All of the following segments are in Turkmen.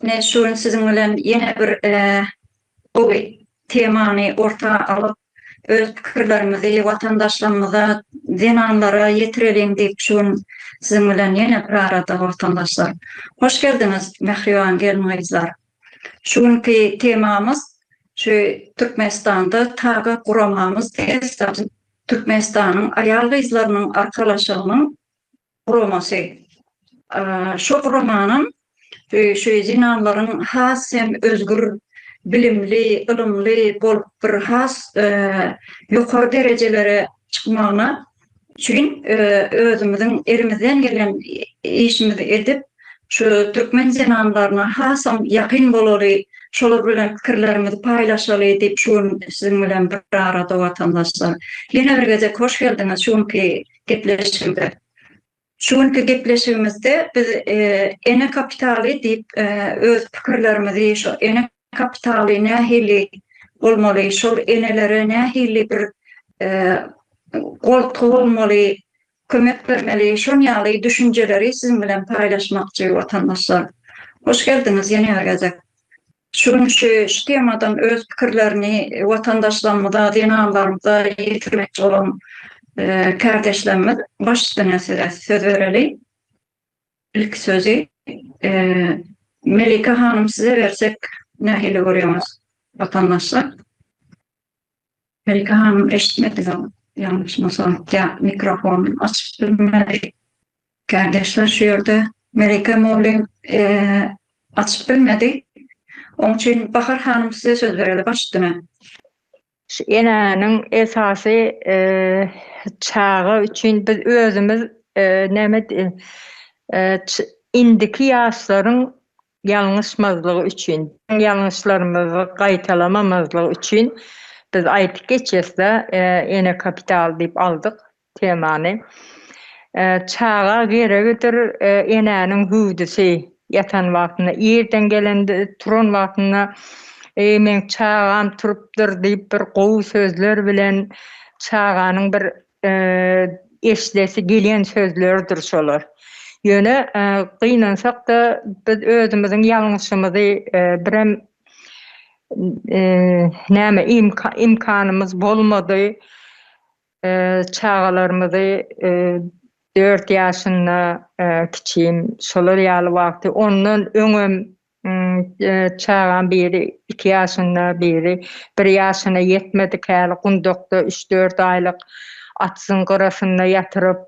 Ine şu gün siziň bilen ýene bir gowy temany orta alyp, öz pikirlerimizi watandaşlarymyza, zenanlara ýetireliň diýip, şu gün siziň bilen ýene bir arada watandaşlar. Hoş geldiňiz, mähriban gelin-gyzlar! Şu günki temamyz şu Türkmenistanda taze guramamyz TESAD, Türkmenistanyň aýal-gyzlarynyň arkalaşygynyň guramasy. Şo guramanyň şu zenanlaryň has hem özgür bilimli, ylymly bolup bir has ýokary derejelere çykmagyna üçin özümiziň elimizden gelen işimizi edip, şu türkmen zenanlaryna hasam ýakyn bolaly, şolar bilen pikirlerimizi paýlaşaly diýip şu gün siziň bilen bir arada watandaşlar. Ýene bir gezek hoş geldiňiz şu günki gepleşigimize. Şu günki gepleşigimizde biz ene kapitaly diýip öz pikirlerimizi şu ene kapitaly nähili bolmaly, şol enelere nähili bir goltgy bolmaly, kömek bermeli, şon ýaly düşünjeleri siziň bilen paýlaşmakçy watandaşlar. Hoş geldiňiz ýene bir gezek. Şu gün şu temadan öz pikirlerini watandaşlarymyza, zenanlarymyza ýetirmekçi bolan kärdeşlerimiz baş üstüne size söz bereli. Ilki sözi Melike hanym size bersek nähili görýäňiz watandaşlar? Melike hanym eşitmediňiz ýalňyşmasam ýa mikrofon açyk bilmedi. Kardeşler şu ýerde Melike Molin açyk bilmedi. Oň üçin Bahar hanym size söz bereli başdyna. Şu enäniň esasy çaga üçin biz özümiz näme indiki ýaşlaryň ýalňyşmazlygy üçin, biziň ýalňyşlarymyzy gaýtalamamazlygy üçin biz aýdyp geçesde Ene kapital diýip aldyk temany. Çaga geregidir enäniň hüwdüsi, ýatan wagtynda, irden gelende, turan wagtynda Eý meň çagam turupdyr diýip bir gowy sözler bilen çaganyň bir Eşidesi gelýän sözlerdir şolar. Ýöne gynansak-da, biz özümiziň ýalňyşymyzy birem näme imkanymyz bolmady, çagalarymyzy dört ýaşynda kiçim şolar ýaly wagty ondan öňem Çagam biri iki ýaşynda, biri bir ýaşyna ýetmedik häli gundakda üç-dört aýlyk atsyň gyrasynda ýatyryp,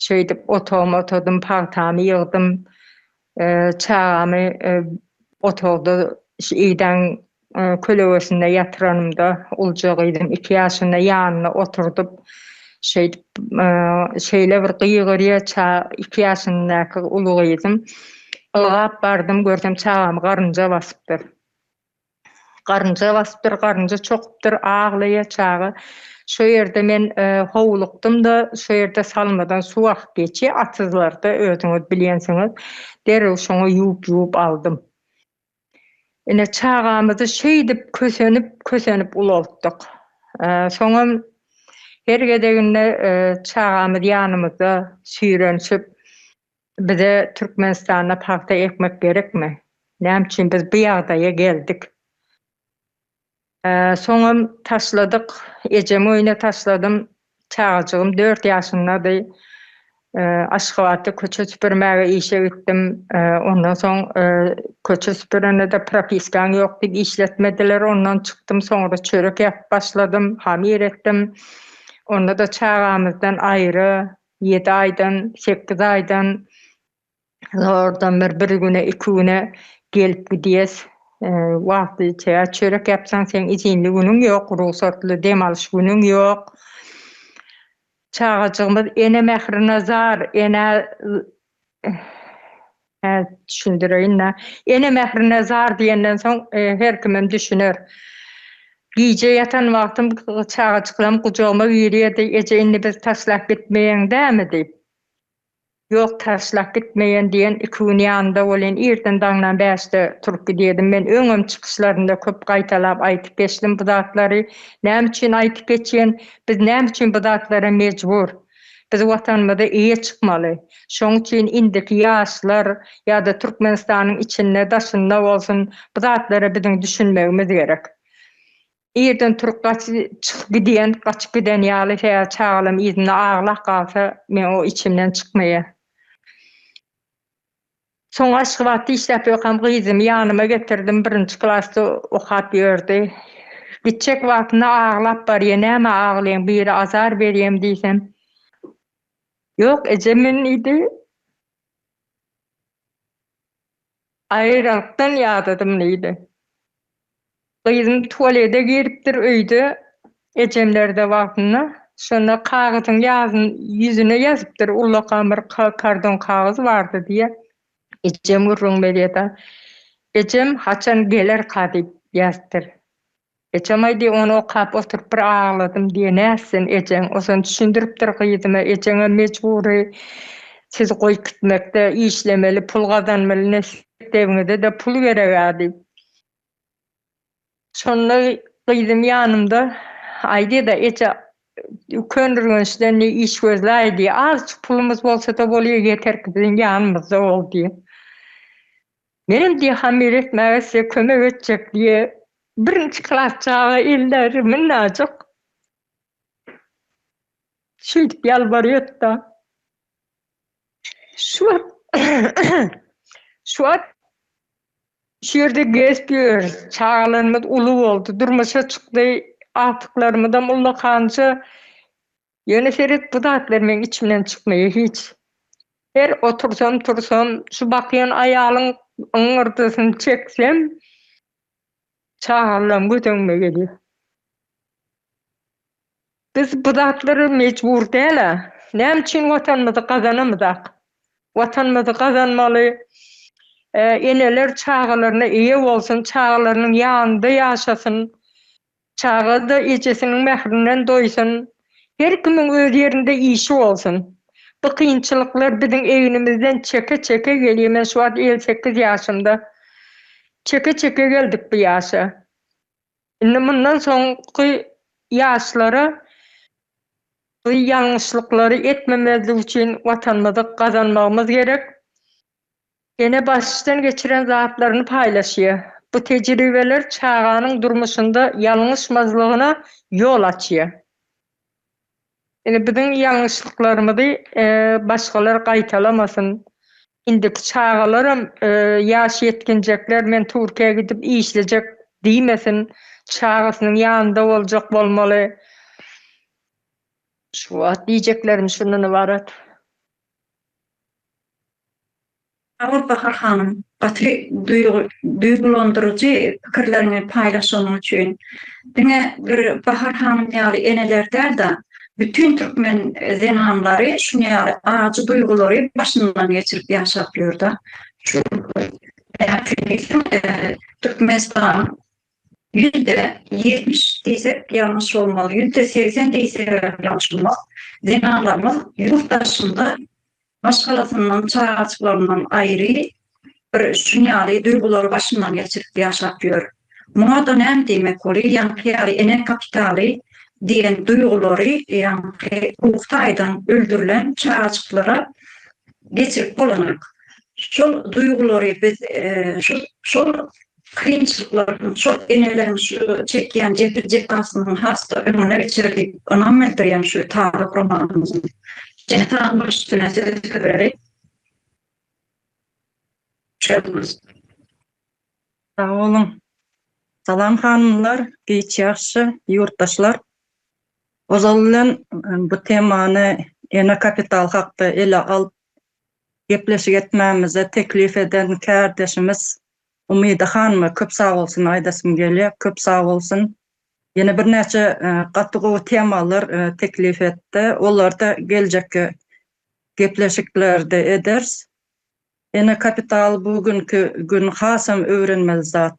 şeýdip otagymy otadym, pagtamy ýygdym. Çagamy otagda idäň Kölegesinde ýatyranymda ulja gyzym iki ýaşynda ýanynda oturdyp, şeýdip, şeýle bir gygyrýar, ça, iki ýaşyndaky uly gyzym. Ylgap bardym, görsem çagamy garynja basypdyr. Garynja basypdyr, garynja çokupdyr, aglaýar çaga. Şo ýerde men howlukdym-da, şo ýerde salmadan suw akyp geçýär, atyzlarda, özüňiz bilýänsiňiz. Derrew şoňa ýuwup-ýuwup aldym. Ine, çagamyzy şeýdip kösenip, kösenip ulaltdyk. Soňam her gezeginde çagamyz ýanymyzda süýrenişip, Bize Türkmenistanda pagta ekmek gerekmi? Näme üçin biz bu ýagdaýa geldik? Soňam taşladyk. Ejemi öýüne taşladym. Çagajygym dört ýaşyndady. Aşgabatda köçe süpürmäge işe gitdim. Ondan soň köçe süpürende-de propiskaň ýok diýip işletmediler. Ondan çykdym. Soňra çörek ýapyp başladym. Hamir etdim. Onda-da çagamyzdan aýry ýedi aýdan, sekiz aýdan zordan bir bir güne iki güne gelip gidýäs wagtlyja çörek ýapsaň seň izinli günüň ýok rugsatly dem alyş günüň ýok çagajygymyz ene mährine zar ene düşündireýinda ene mährine zar diýenden soň her kimem düşüner gije ýatan wagtym çagajyklarym gujagyma girýärdi eje indi bizi taşlap gitmeýäň dämi diýip. Ýok, taşlap gitmeýän diýen iki gün ýanynda bolýan. Irden daňdan bäşde turup gidýärdim. Men öňem çykyşlarymda köp gaýtalap aýtyp geçdim bu zatlary. Näme üçin aýtyp geçýän? Biz näme üçin bu zatlara mejbur? Biz Watanymyza eýe çykmaly. Şoň üçin indiki ýaşlar ýa-da Türkmenistanyň içinde, daşynda bolsun, bu zatlara biziň düşünmegimiz gerek. Irden turup gaç çyk gidýän gaçyp giden ýaly hä çagalam yzynda aglap galsa men o içimden çykmaýa. Soň Aşgabatda işläp ýörkäm gyzymy ýanyma getirdim birinji klasda okap ýördi. Gitjek wagtynda aglap barýa näme aglaýaň biri azar berýämi diýsem ýok eje men diýdi. Aýralyktdan ýadadym diýdi. Gyzym tualede giripdir öýde ejemlerde wagtynda. Şonda kagyzyň ýazyn ýüzüne ýazypdyr ullakan bir karton kagyz bardy diýýä. Ejem gürrüň berýä-da. Ejem haçan gelerka diýip ýazypdyr. Ejem-aý diýip ony okap oturyp bir agladym diýe nätsin ejeň. Ozan düşündiripdir gyzyma ejeňem mejbury sizi goýup gitmekde işlemeli pul gazanmaly nesip ewiňizede pul gereg-ä diýip. Şonda gyzym ýanymda aý diýdi-de eje Köneürgençden diýdi iş gözläý diýdi. Azjyk pulumyz bolsada bolýa ýeterki biziň ýanymyzda bol diýdi. Menem diýe hamyr etmäge size kömek etjek diýe birinji klas çaga elleri minnajyk şeýdip ýalbarýatda şu wagt şu wagt şu ýerde gezip ýörüs çagalarymyz uly boldy durmuşa çykdy agtyklarymyzam ullakanja Ýöne seret, bu zatlar meň içimden çykmaýar hiç. Her otursam-tursam, şu bakýan aýalyň yňňyrdysyny çeksem, çagalaram göz öňüme gelýär. Biz bu zatlara mejbur däl-ä. Näme üçin Watanymyzy gazanamyzak? Watanymyzy gazanmaly, eneler çagalaryna eýe bolsun, çagalarynyň ýanynda ýaşasyn. Çaga-da ejesiniň mährinden doýsun. Her kimiň öz ýerinde işi bolsun. Bu kynçylyklar biziň egnimizden çeke-çeke gelýär. Men şu wagt elli sekiz ýaşymda. Çeke-çeke geldik bu ýaşa. Indi mundan soňky ýaşlara bu ýalňyşlyklary etmemezlik üçin Watanymyzy gazanmagymyz gerek. Ene başdan geçiren zatlaryny paýlaşýar. Bu tejribeler çaganyň durmuşynda ýalňyşmazlygyna ýol açýar. Indi biziň ýalňyşlyklarymyzy başgalar gaýtalamasyn. Indiki çagalaram ýaş ýetginjekler men Türkiýä gidip işlejek diýmesin. Çagasynyň ýanynda boljak bolmaly. Şu wagt diýjeklerim şundan ybarat. Sag bol Bahar hanym, gaty duýgulandyryjy pikirleriňi paýlaşanyň üçin. Diňe bir Bahar hanym ýaly eneler däl-de, bütin türkmen zenanlary şuny ýaly ajy duýgulary başyndan geçirip ýaşap ýör-de. Şu gün Türkmenistanyň Ýüzde ýetmiş diýsek ýalňyş bolmaz, ýüzde segsen diýselerem ýalňyş bolmaz, zenanlarymyz ýurt daşynda maşgalasyndan, çagajyklaryndan aýry bir şun ýaly duýgulary başyndan geçirip ýaşap ýör. Muňa-da näme diýmek boly, ýaňky ýaly ene kapitaly diýen duýgulary ýaňky ruhy taýdan öldürilen çagajyklara geçirip bolanyk. Şol duýgulary biz şol kynçylyklar, çort eneleriň şu çekýän jebir-jepasynyň has-da öňüne geçer diýip ynam bildirýän şu taze guramalymyzyň jenap baştutana sözi höwreli. Çözgüliz. Sag boluň. Salam hanymlar, giç ýagşy ýurtdaşlar. Ozal bilen bu temany ene kapital hakda ele alyp gepleşik etmämize teklip eden kärdeşimiz Umyda hanyma köp sag bolsun aýdasym gelýär köp sag bolsun. Ýene birnäçe gaty gowy temalar teklip etdi. Olary-da geljekki gepleşiklerde eders. Ene kapital bu günki gün hasam öwrenmeli zat.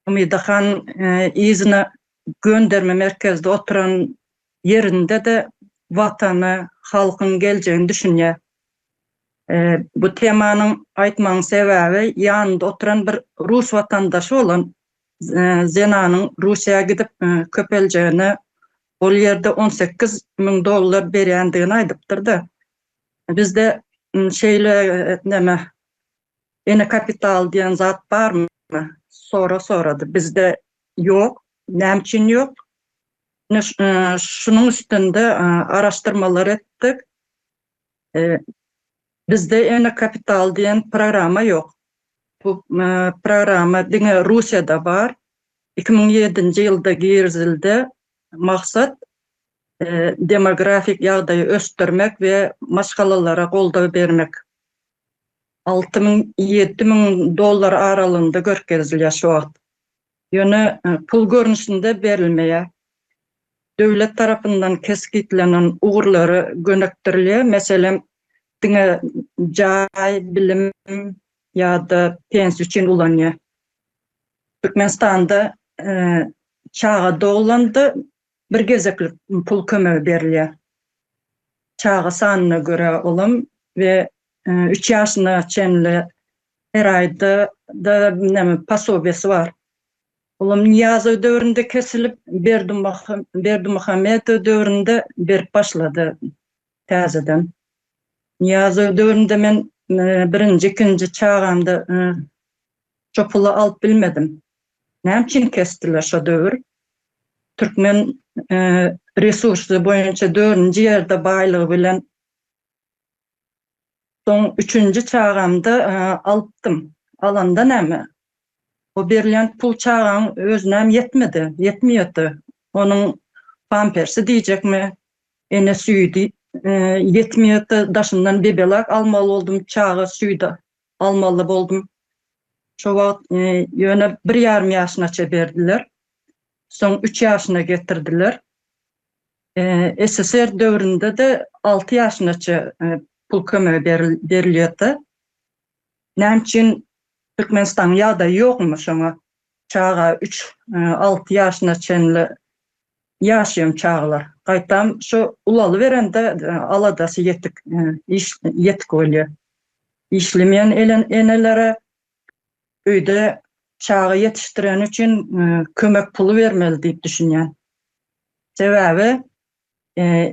Umyda han yzyna gönderme merkezde oturan ýerinde-de Watany, halkyň geljegini düşünýär. Bu temanyň aýtmagyň sebäbi ýanynda oturan bir rus watandaşy bolan zenanyň Russiýa gidip köpeljegine ol ýerde on sekiz müň dollar berýändigini aýdypdyrda. Bizde şeýle näme ene kapital diýen zat barmy? Sora sorady. Bizde ýok. Näme üçin ýok? Şunuň üstünde araşdyrmalar etdik. Bizde ene kapital diýen programa ýok. Bu programa diňe Russiýada bar. Iki müň ýedinji ýylda girizildi. Maksat demografik ýagdaýy ösdürmek we maşgalalara goldaw bermek. Alty müň, ýedi müň dollar aralygynda görkezilýär şu wagt. ýöne pul görnüşinde berilmeýär. Döwlet tarapyndan kesgitlenen ugurlary gönükdirilýär, meselem, diňe jaý, bilim ýa-da pensiýa üçin ulanýar. Türkmenistanda çaga doglanda Bir gezeklik pul kömegi berilýär. Çaga sanyna görä olam we üç ýaşyna çenli her aýda-da näme posobiýasy bar. Olam Nyýazow döwründe kesilip, Berdimuhamedow döwründe berip başlady. Täzeden Nyýazow döwründe men birinji, ikinji çagamda şo puly alyp bilmedim. Näme üçin kesdiler şo döwür? Türkmen resursy boýunça dördünji ýerde baýlygy bilen Soň üçünji çagamda alypdym. Alanda näme? O berilýän pul çagaň özünem ýetmedi, ýetmeýärdi. Onuň pampersi diýjekmi, ene süýdi ýetmeýärdi. Daşyndan bebelak almaly boldum, çaga süýdi almaly boldum. Şo wagt ýöne bir ýarym ýaşynaça berdiler. Soň üç ýaşyna getirdiler. SSR döwründe-de alty ýaşynaça pul kömegi berilýärdi. Näme üçin Türkmenistanyň ýagdaýy ýokmy şoňa? Çaga üç, alty ýaşyna çenli ýaşaýan çagalar. Gaýtam şu ulalyberende aladasy ýetik, iş ýetik bolýar. Işlemeýän enelere öýde çaga ýetişdireni üçin kömek puly bermeli diýip düşünýän. Sebäbi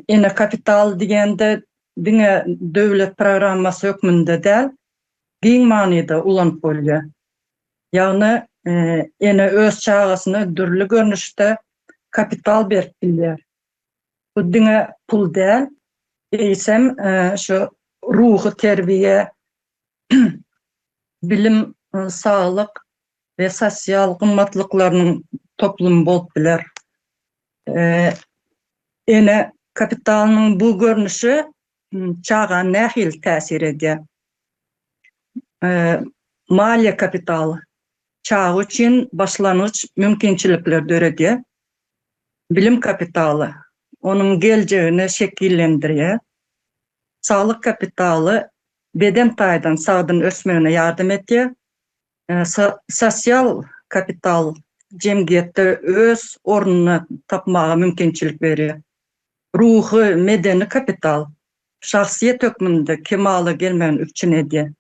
ene kapital diýende diňe döwlet programmasy hökmünde däl, giň manyda ulanyp bolýar. Ýagny ene öz çagasyna dürli görnüşde kapital berip bilýär. Bu diňe pul däl, eýsem şu ruhy terbiýe, bilim, saglyk we sosial gymmatlyklarynyň toplumy bolup biler. Ene kapitalynyň bu görnüşi çaga nähili täsir edýär? Maliýe kapitaly çaga üçin başlangyç mümkinçilikleri döredýär. Bilim kapitaly onuň geljegini şekillendirýär. Saglyk kapitaly beden taýdan sagdyn ösmegine ýardam edýär, sosial kapital jemgyýetde öz ornuny tapmaga mümkinçilik berýär, ruhy, medeni kapital şahsyýet hökmünde kemala gelmegini üpjün edýär.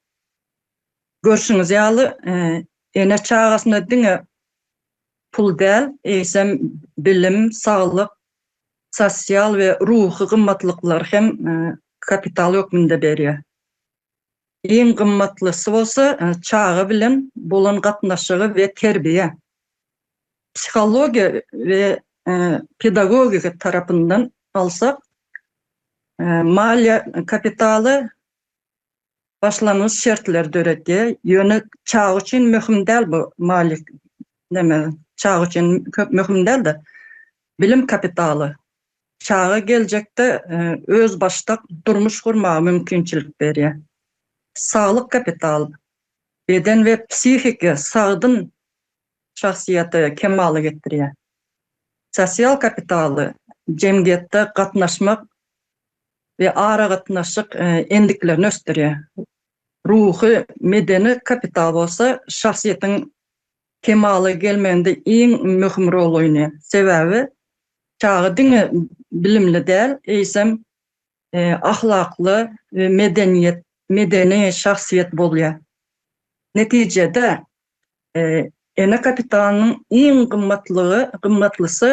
Görşüňiz ýaly, ene çagasyna diňe pul däl, eýsem, bilim, saglyk, sosial we ruhy gymmatlyklar hem kapital hökmünde berýär. Iň gymmatlysy bolsa, çaga bilen bolan gatnaşygy we terbiýe. Psihologiýa we pedagogika tarapyndan alsak, maliýe kapitaly başlangyç şertleri döredýär, ýöne çaga üçin möhüm däl bu maliýe neme çaga üçin köp möhüm däl-de, bilim kapitaly. Çaga geljekde özbaşdak durmuş gurmaga mümkinçilik berýär. Saglyk kapitaly, beden we psihiki sagdyn şahsyýete kemala getirýär. Sosial kapitaly, jemgyýetde gatnaşmak we aragatnaşyk endiklerini ösdürýär. Ruhy, medeni kapital bolsa şahsyýetiň kemala gelmeginde iň möhüm rol oýnaýar. Sebäbi çaga diňe bilimli däl, eýsem, ahlakly we medeniýet, medeni şahsyýet bolýar. Netijede, Ene kapitalynyň iň gymmatlygy, gymmatlysy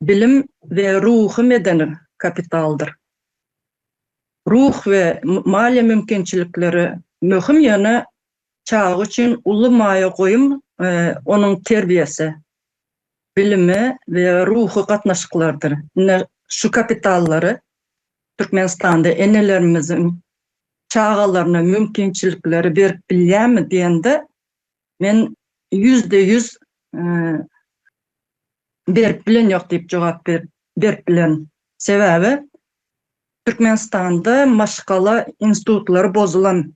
bilim we ruhy-medeni kapitaldyr. Ruh we maliýe mümkinçilikleri möhüm, ýöne çaga üçin uly maýa goýum onuň terbiýesi, bilimi we ruhy gatnaşyklardyr. Ine, şu kapitallary Türkmenistanda enelerimiziň çagalaryna mümkinçilikleri berip bilýärmi diýende, men ýüzde ýüz berip bilen ýok diýip jogap berip bilerin. Sebäbi Türkmenistanda maşgala institutlary bozulan,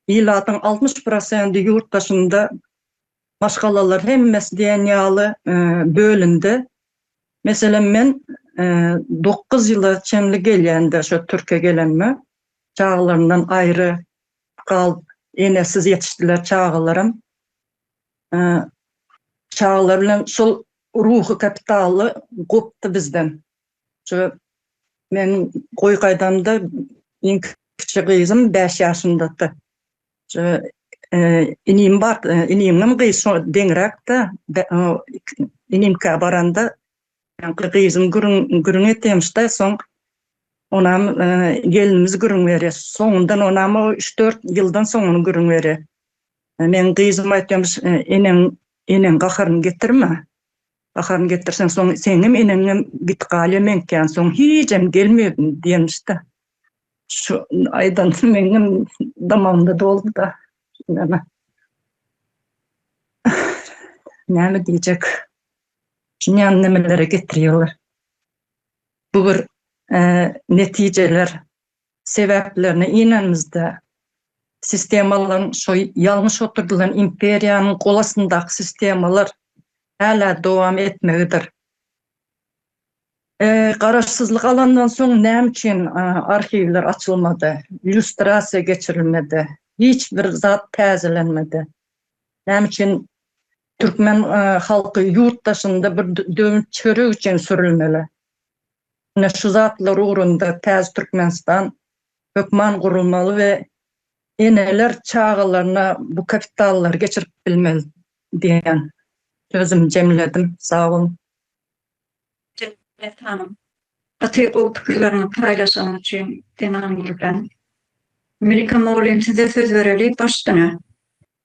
ilatyň altmyş prosendi ýurt daşynda Maşgalalar hemmesi diýen ýaly bölündi. Meselem, men dokuz ýyla çenli gelýän-de şo Türkiýä gelenime, çagalaryndan aýry galyp, enesiz ýetişdiler çagalarym. Çagalar bilen şol ruhy kapitaly gopdy bizden. Şo meniň goý gaýdamda iň kiçi gyzym bäş ýaşyndady. Şu inim bar, inimem gyz şo deňräkde. Inimkä baranda gyzyň gürüň gürüň etemişde, soň onam gelinimiz gürüň berýär. Soňundan onam o üç-dört ýyldan soň ony gürüň berýär. Meň gyzym aýtýarmyş, eneň eneň gaharyny getirme. Baharyny getirseň, soň seňňem eneňňem git galýa meňkem soň hijem gelmegin diýenmiş-de. Şu aýdan meňňem damagymda doldy-da. Näme? Näme diýjek? Dünýäni nämelere getirýärler? Bu bir netijeler sebäplerine inenimizde, sistemalan şo ýalňyş oturdylan imperiýanyň gol astyndaky sistemalar hälä dowam etmegidir. Garaşsyzlyk alandan soň näme üçin arhiwler açylmady, lýustrasiýa geçirilmedi, hiç bir zat täzelenmedi? Näme üçin türkmen halky ýurt daşynda bir döwünç çörek üçin sürülmeli? Ine, şu zatlar ugrunda Täztürkmenistan hökman gurulmaly we eneler çagalaryna bu kapitallary geçirip bilmeli diýen sözümi jemledim. Sag boluň! Jennet hanym, gaty gowy pikirleriňi paýlaşanyň üçin zenan ýürekden. Melika mugallym size söz bereli başdan-a.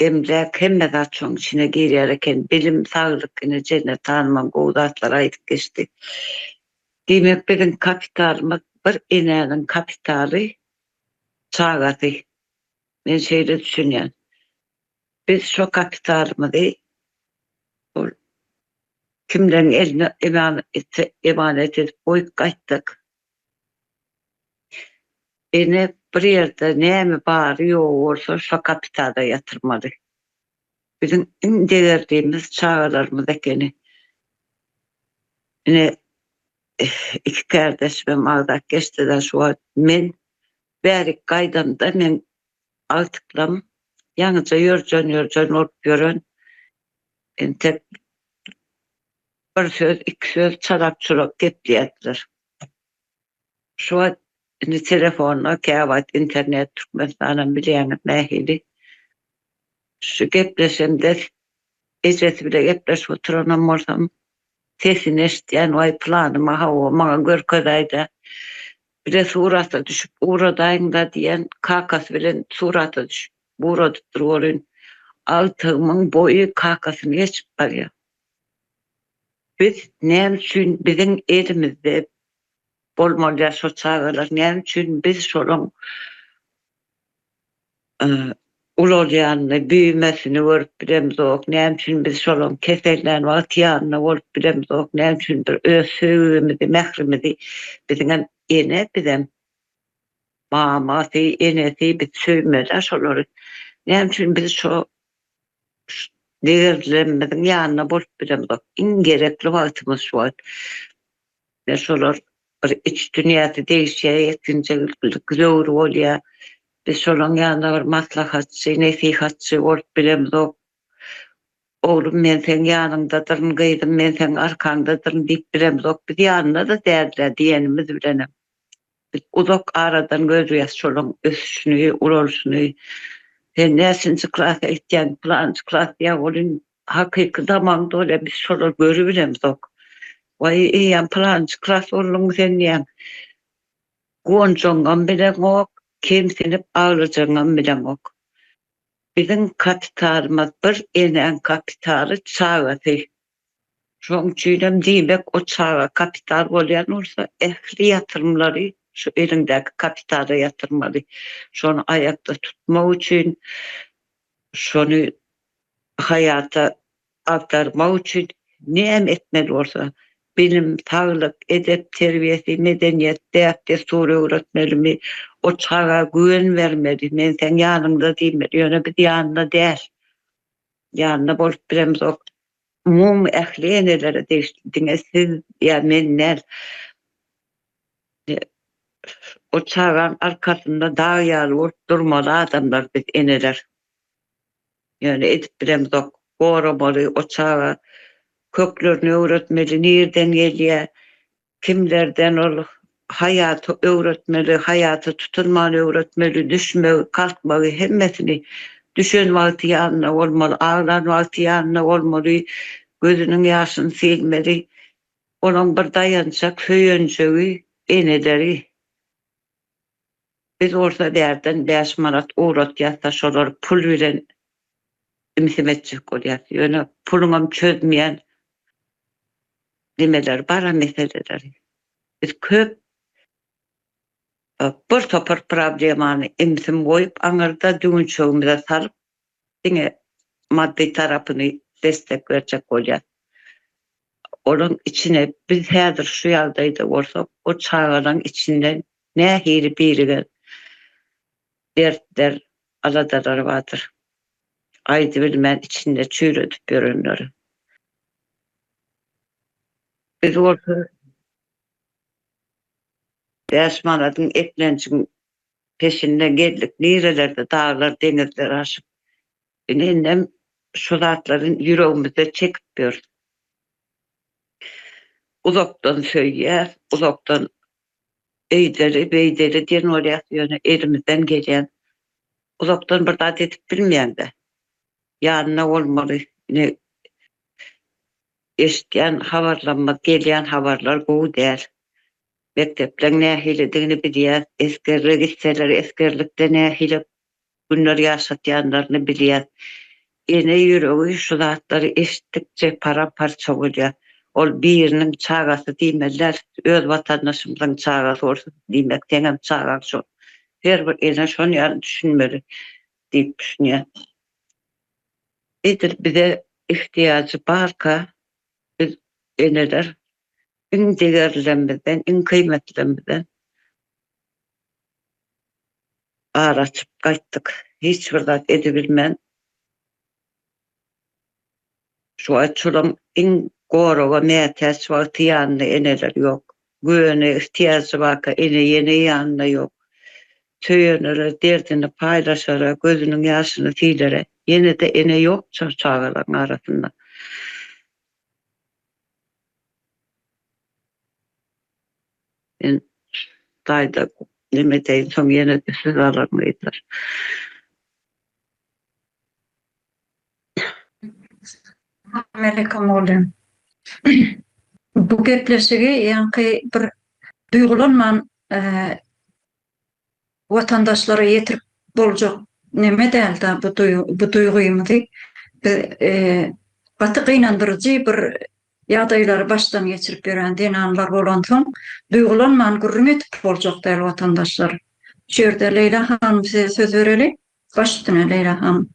Emläk hemme zat şoň içine girýär eken bilim saglyk ine Jennet hanymam gowy zatlar aýdyp geçdi. Diýmek biziň kapitalymyz bir enäniň kapitaly çagasy. Men şeýle düşünýän. Biz şo kapitalymyzy ol kimleriň eline emanet edip goýup gaýtdyk. Ene bir ýerde näme bary ýogy bolsa şo kapitada ýatyrmaly. Biziň iň degerdimiz çagalarymyz ekeni. Ine iki kärdeşimem agzap geçdiler şu wagt. Men bärik gaýdamda men agtyklam ýaňyja ýörjen-ýörjen bolup ýören entek Bir söz, iki söz çalak-çulak gepleýärdiler. Şu wagt indi telefonda, käwagt internet, Türkmenistanam bilýäňiz nähili. Şu gepleşemde ejesi bile gepleşip oturanam bolsam, sesini eşitýän, Waý, pylanyma hawa, maňa görkezäý-dä. Bile surata düşüp ugradaýyň-da diýen, kakasy bilen surata düşüp ugradypdyr welin, agtygymyň boýy kakasyny geçip barýar. Biz näme üçin biziň elimizde bolmaly ýa şo çagalar näme üçin biz şolaň ulalýanyny büýümesini görüp bilemizok näme üçin biz şolaň kesellän wagt ýanynda bolup bilemizok näme üçin bir öz söýgimizi mährimizi biziňem ene bizem mamasy enesi biz söýmeli şolary näme üçin biz şo Degerlenmeziň ýanynda bolup bilemzok. Iň gerekli wagtymyz şu wagt. Ýa şolar bir iç dünýäsi degişýär, ýetginjek ilkilik zöwür bolýar. Biz şolaryň ýanynda bir maslahatçy, nesihatçy bolup bilemzok. Oglum men seň ýanyňdadyryn, gyzym men seň arkaňdadyryn diýip bilemzok. Biz ýanynda-da däldir-ä diýenimiz bilenem. Biz uzak aradan görýäs şolaň ösüşini, ulalyşyny. Sen näçinji klasa gitýäň? Pylanjy klas ýa ol in hakyky zamandy ol ýa biz şolary görübilemzok. Waý, eýýäm pylanjy klas bolduňmy sen diýýän. Guwanjagyňam bileňok, kemsinip aglajagyňam bileňok. Biziň kapitalymyz bir, enäň kapitaly çagasy. Şoň üçin hem diýmek, o çaga kapital bolýan bolsa, ähli ýatyrymlary şu eliňdäki kapitala ýatyrmaly. Şony aýakda tutmak üçin, şony haýata agdarmak üçin näme etmeli bolsa, bilim, saglyk, edep terbiýesi, medeniýet, däp-dessur öwretmelimi, o çaga güwen bermeli, men seň ýanyňda diýmeli, ýöne biz ýanynda däl. Ýanynda bolup bilemzok. Umumy ähli enelere degişli, diňe siz ýa men däl. Ol çagaň arkasynda dag ýaly bolup durmaly adamlar biz eneler. Ýöne edip bilemzok. Goramaly o çaga. Köklerini öwretmeli, nirden gelýär, Kimlerden ol haýaty öwretmeli, haýata tutunmany öwretmeli, düşmegi, kalkmagy, hemmesini. Düşen wagty ýanynda bolmaly, aglan wagty ýanynda bolmaly, gözüniň ýaşyny silmeli. Onuň bir daýançak söýenjegi, eneleri. Biz bolsa bärden bäş manat ugratýasda şolar pul bilen imsim etjek bolýas ýöne puluňam çözmeýän nimeler bara meseleler biz köp bir topar problemany imsim goýup aňyrda düwünçegimize salyp diňe maddy tarapyny destek berjek bolýar. Olaň içine biz häzir şu ýagdaýda bolsak, o çagalaň içinde nähili birigen dertler, aladalar bardyr. Aýdybilmän içinde çüýredip ýörenleri. Biz bolsa bäş manadyň eklenjiň Peşinde gezdik nirelerde daglar deňizler aşyp. Ine indem şu zatlary ýüregimizde çekip ýörüs. Uzakdan söýýäs, uzakdan öýdeli, beýdeli diýen bolýas ýöne elimizden gelýän uzakdan bir zat edip bilmeýäňdä. Ýanynda bolmaly. Ine eşitýän habarlarymyz, gelýän habarlar gowy däl. mekdepleň nähilidigini bilýäs, esgerlige gitseler esgerlikde nähili günler ýaşatýanlaryny bilýäs. Ene ýüregi şu zatlary eşitdikçe param-parça bolýar. Ol biriniň çagasy diýmeli däl, öz watandaşymyzyň çagasy bolsa diýmek seňem çagaň şol. Her bir ene şon ýaly düşünmeli diýip düşünýän. Edil bize ihtiýajy barka biz eneler iň degerlilerimizden, iň kybmetlilerimizden ar açyp gaýtdyk. Hiç bir zat edibilmän, şu wagt şolaň iň goraga mätäç wagty ýanynda eneler ýok. Güwene ihtiýajy barka ene-ýene ýanynda ýok. Söýenlere derdini paýlaşara, gözüniň ýaşyny silere ýene-de ene ýok şu çagalaryň arasynda. Men daýza neme edeýin, soň ýene-de söz alaryn gyzlar. Salamaleýkum oglum. Bu gepleşigi ýaňky bir duýgulanman watandaşlara ýetirip boljak neme dälda bu bu duýgymyzy biz gaty gynandyryjy bir ýagdaýlary başdan geçirip ýören zenanlar bolansoň duýgulanman gürrüň edip boljak däl watandaşlar şu ýerde Leýla hanym size söz bereli baş üstüne Leýla hanym.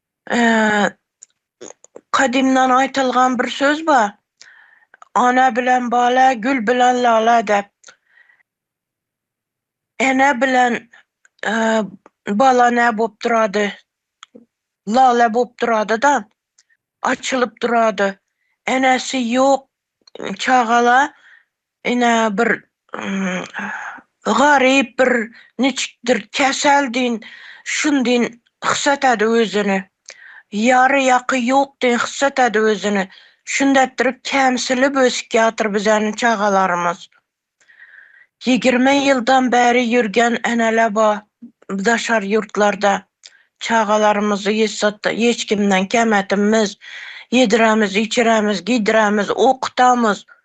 Kadymdan aýtylgan bir söz bar. Ana bilen bala, gül bilen lala dep. Ene bilen bala nä bolup durady? Lala bolup durady-da, açylyp durady. Enesi ýok çagala Ine, bir garyp, bir niçikdir käsel deýin, şun deýin hys etedi özüni. Ýary-ýaky ýok deýin hys etedi özüni. Şundäpdir kämsilip ösüp ýatyr bizäniň çagalarymyz. Ýigirme ýyldan bäri ýürgen ene-le ba, daşary ýurtlarda. Çagalarymyzy hiç zat, hiç kimden kem etimmiz. Ýedirämiz, içirämiz, giýdirämiz, okutamyz.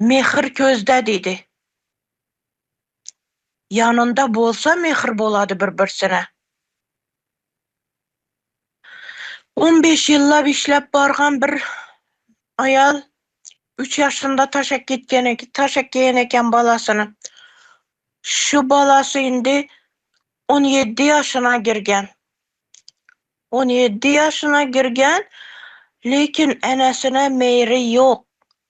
Mähir köz-dä diýdi. Ýanynda bolsa mähir bolady bir-birsine. On beş ýyllap işläp bargan bir aýal üç ýaşynda taşak gitgen eken, taşak geýen eken balasyny. Şu balasy indi on ýedi ýaşyna girgen. On ýedi ýaşyna girgen, lekin enesine meýri ýok.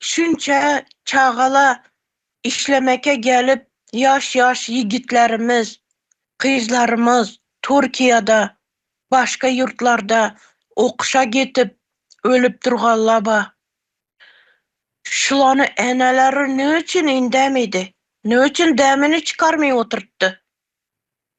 Şunça çagala işlemeke gelip ýaş ýaş ýigitlerimiz, gyzlarymyz Türkiýede başga ýurtlarda okuşa gitip ölüp durganlaba. Şulany eneleri nüçin indemidi, nüçin demini çykarmy oturtdy.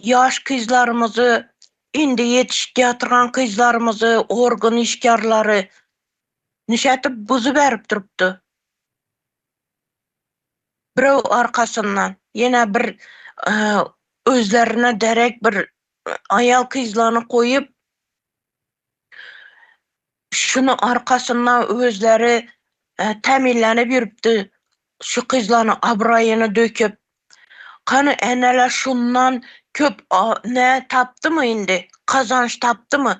Ýaş gyzlarymyzy, indi ýetişip ýatyrgan gyzlarymyzy, organ işgärleri nişetip buzy berip durupdy. Birew arkasyndan, ýene bir özlerine derek bir aýal-kyzlany goýup, Şunuň arkasynda özleri tämillenip ýürüpdi, şu kyzlaryň abraýyny döküp. Hany, eneler şundan köp ne tapdymy indi, gazanç tapdymy?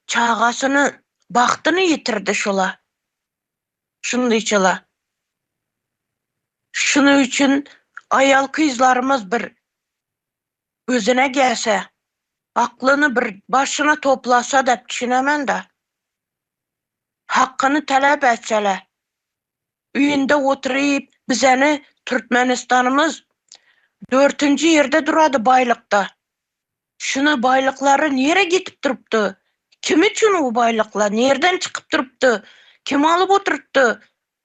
Çagasyny, bagtyny ýitirdi şular. Şundyçyla. Şunuň üçin aýal-kyzlarymyz bir özüne gelse aklyny bir başyna toplasa dep düşünemenda hakyny talap etsele üýünde oturyp bizeni Türkmenistanymyz dörtünji ýerde durady baýlykda şuna baýlyklary nire gitip durupdy kim üçin u baýlykla nirden çykyp durupdy kim alyp oturtdy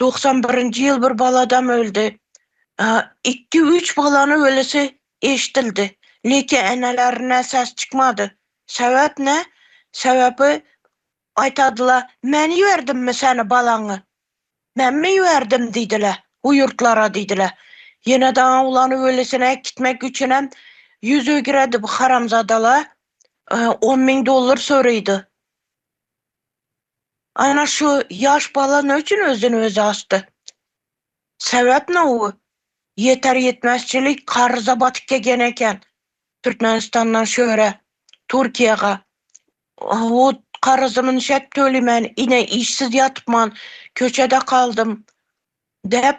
Doksan birinji ýyl bir baladam öldi. Ikki üç balany ölüsi eşdildi. Leke enelerinden ses çykmady. Sebäp ne? Sebebi aýtadyla men iberdimmi seni balaňy? Menmi iberdim diýdile bu ýurtlara diýdile. Ýene daň owlany ölüsini äkitmek üçinem ýüz ögiredi bu haramzadala. On müň dollar soraýdy. Ana şu ýaş bala ne üçin özden özi asdy? Sebäp ne u ýeter ýetmezçilik karza batyp kegen eken Türkmenistandan şöre Turkiýaga hut karzymyn şep tölemän ine işsiz ýatypman köçede kaldym dep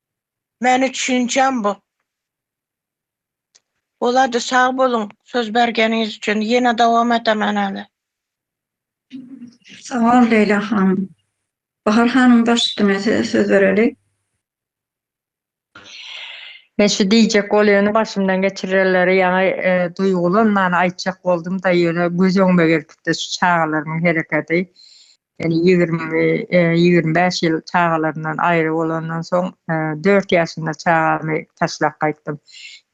Meni düşünjäň bop. Bolady sag boluň söz bergeniňiz üçin ýene dowam edemen äle. Sawol Leýla hanym. Bahar hanym baş üstüne size söz bereli. Men şu diýjek bolýany başymdan geçirenleri ýaňy duýgulanmany aýtjak boldumda ýöne göz öňüme gelipdi şu çagalarymyň hereketi. Ýöne ýigrimi-ýigrimi bäş ýyl çagalarymdan aýry bolandan soň, dört ýaşynda çagamy taşlap gaýtdym.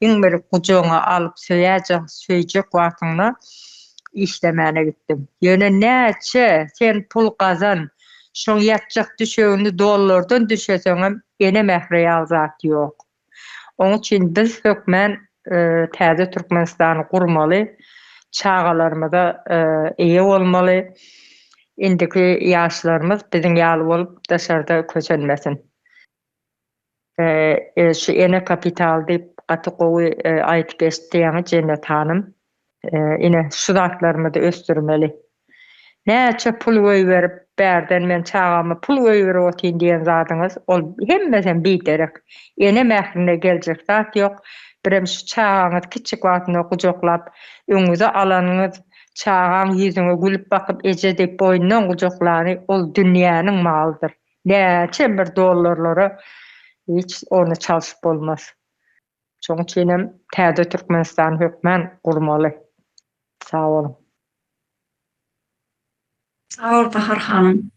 Iň bir gujagyňa alyp söýäýjek, söýjek wagtyňda işlemäne gitdim. Ýöne näçe sen pul gazan, şoň ýatjak düşegini dollardan düşeseňem, ene mähri ýaly zat ýok. Oň üçin biz hökmän täze Türkmenistany gurmaly, çagalarymyza eýe bolmaly, indiki ýaşlarymyz biziň ýaly bolup daşarda kösenmesin. Şu ene kapitaly diýip gaty gowy aýyp geçdiň Jennet hanym. Ine, şu zatlarymyzy ösdürmeli. Näçe pul goýberip, bärden men çagama pul goýberip otyryn diýen zadyňyz, ol hemmesem biderek. Ene mährine geljek zat ýok. Birem şu çagaňyzy kiçijik wagtynda gujaklap, öňüňize alanyňyz, çagaň ýüzüňe gülüp bakyp, eje diýip boýnundan gujaklany, ol dünýäniň malydyr. Näçem bir dollarlara hiç ony çalşyp bolmaz. Şoň üçin hem täze Türkmenistany hökmän gurmaly. Sag boluň. Sag bol Bahar hanym.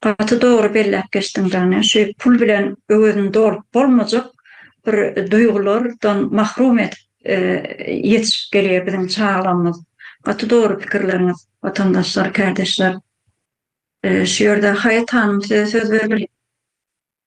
Gaty dogry belläp geçdiň jany. Şu pul bilen öwezini dolup bolmajak bir duýgulardan mahrum edip ýetişip gelýär biziň çagalarymyz. Gaty dogry pikirleriňiz watandaşlar, kärdeşler. Şu ýerde Haýat hanym size söz bermeli.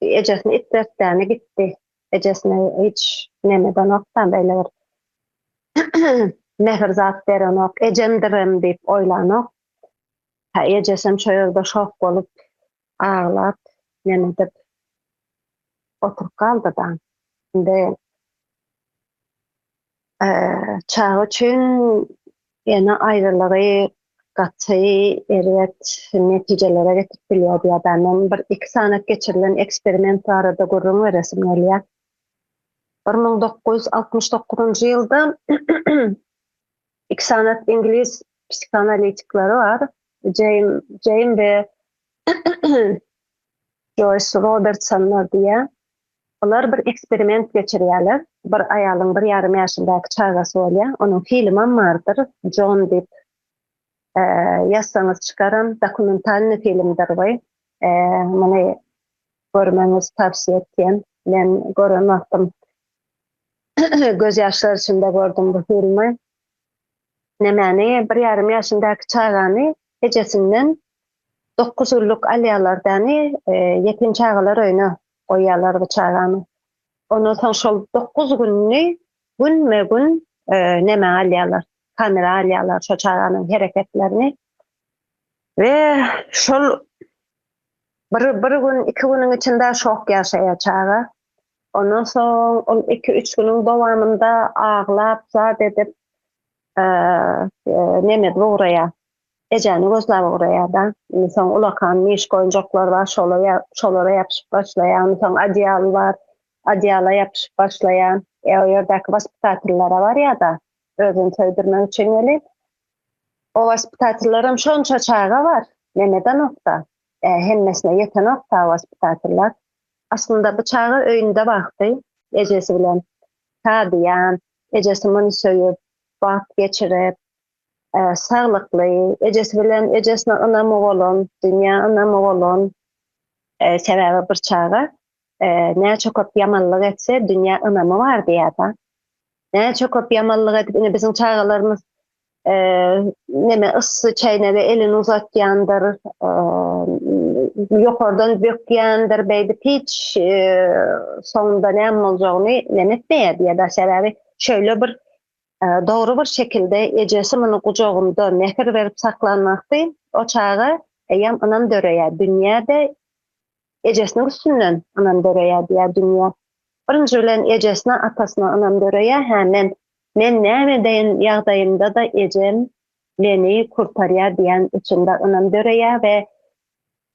Ejesini itletdäni gitdi. Ejesine hiç neme edenokda, beýle bir mähir zat berenok. Ejemdirem diýip oýlanok. Hä, ejesem şo ýerde şok bolup, aglap, neme edip oturyp galdy-da. Indi. Çaga üçin ene aýrylygy gaty erbet netijelere getirip bilýär diýýärler. Men bir iki sany geçirilen eksperiment barada gürrüň beresim gelýär. Bir müň dokuz ýüz altmyş dokuzynjy ýylda iki sany iňlis psihoanalitikleri bar. Jeým Jeým we Joýs Robertsonlar diýýär. Olar bir eksperiment geçirýärler. Bir aýalyň bir ýarym ýaşyndäki çagasy bolýar. Onuň filmam bardyr, Jon diýip ýazsaňyz çykaram. Dokumentalnyý filmdir bu. Muny görmegiňizi towsiýe etýän. Men gören wagtym göz ýaşlar içinde gördüm bu filmi. Nämäni, bir ýarym ýaşyndäki çagany ejesinden dokuz gullyk alýarlar däni, ýetim çagalar öýüne goýýarlar bu çagany. Ondan soň şol dokuz gününi günme-gün e, näme alýarlar, kamera alýarlar şo çaganyň hereketlerini. We şol bir, bir gün, iki günüň içinde şok ýaşaýar çaga. Ondan soň ol iki, üç günüň dowamynda aglap, zat edip, e, e, nemed ugraýar. Ejäni gözläp ugraýar-da, indi soň ulakan myşk oýunjaklar bar, şola-ýa, şolara ýapyşyp başlaýar, indi soň odýal bar, odýala ýapyşyp başlaýar, e, o ýerdäki waspitatellara barýar-da, özüni söýdürmek üçin welin, o waspitatelleram şonça çaga bar, nemedenok-da, e, hemmesine ýetenok-da o waspitateller. Aslynda bu çaga öýünde wagty ejesi bilen şadyýan, ejesi muny söýüp, wagt geçirip, Saglykly, ejesi bilen ejesine ynamy bolan, dünýä ynamy bolan, sebäbi bir çaga näçe köp ýamanlyk etse, dünýä ynamy bar diýýärdi. Näçe köp ýamanlyk edip, ine biziň çagalarymyz neme yssy çäýnege elini uzatýandyr, ýokardan bökýändir, beýdip hiç soňunda näme boljagyny neme etmeýärdi ýa-da sebäbi şeýle bir Dogry bir şekilde ejesi muny gujagynda mähir berip saklanmasy o çaga eýýäm ynam döreýär dünýä-de ejesiniň üstünden ynam döreýär diýýär dünýä. Birinji bilen ejesine atasyna ynam döreýär hä men men näme edeýin ýagdaýymda-da ejem meni kurtarýar diýýän içinde ynam döreýär we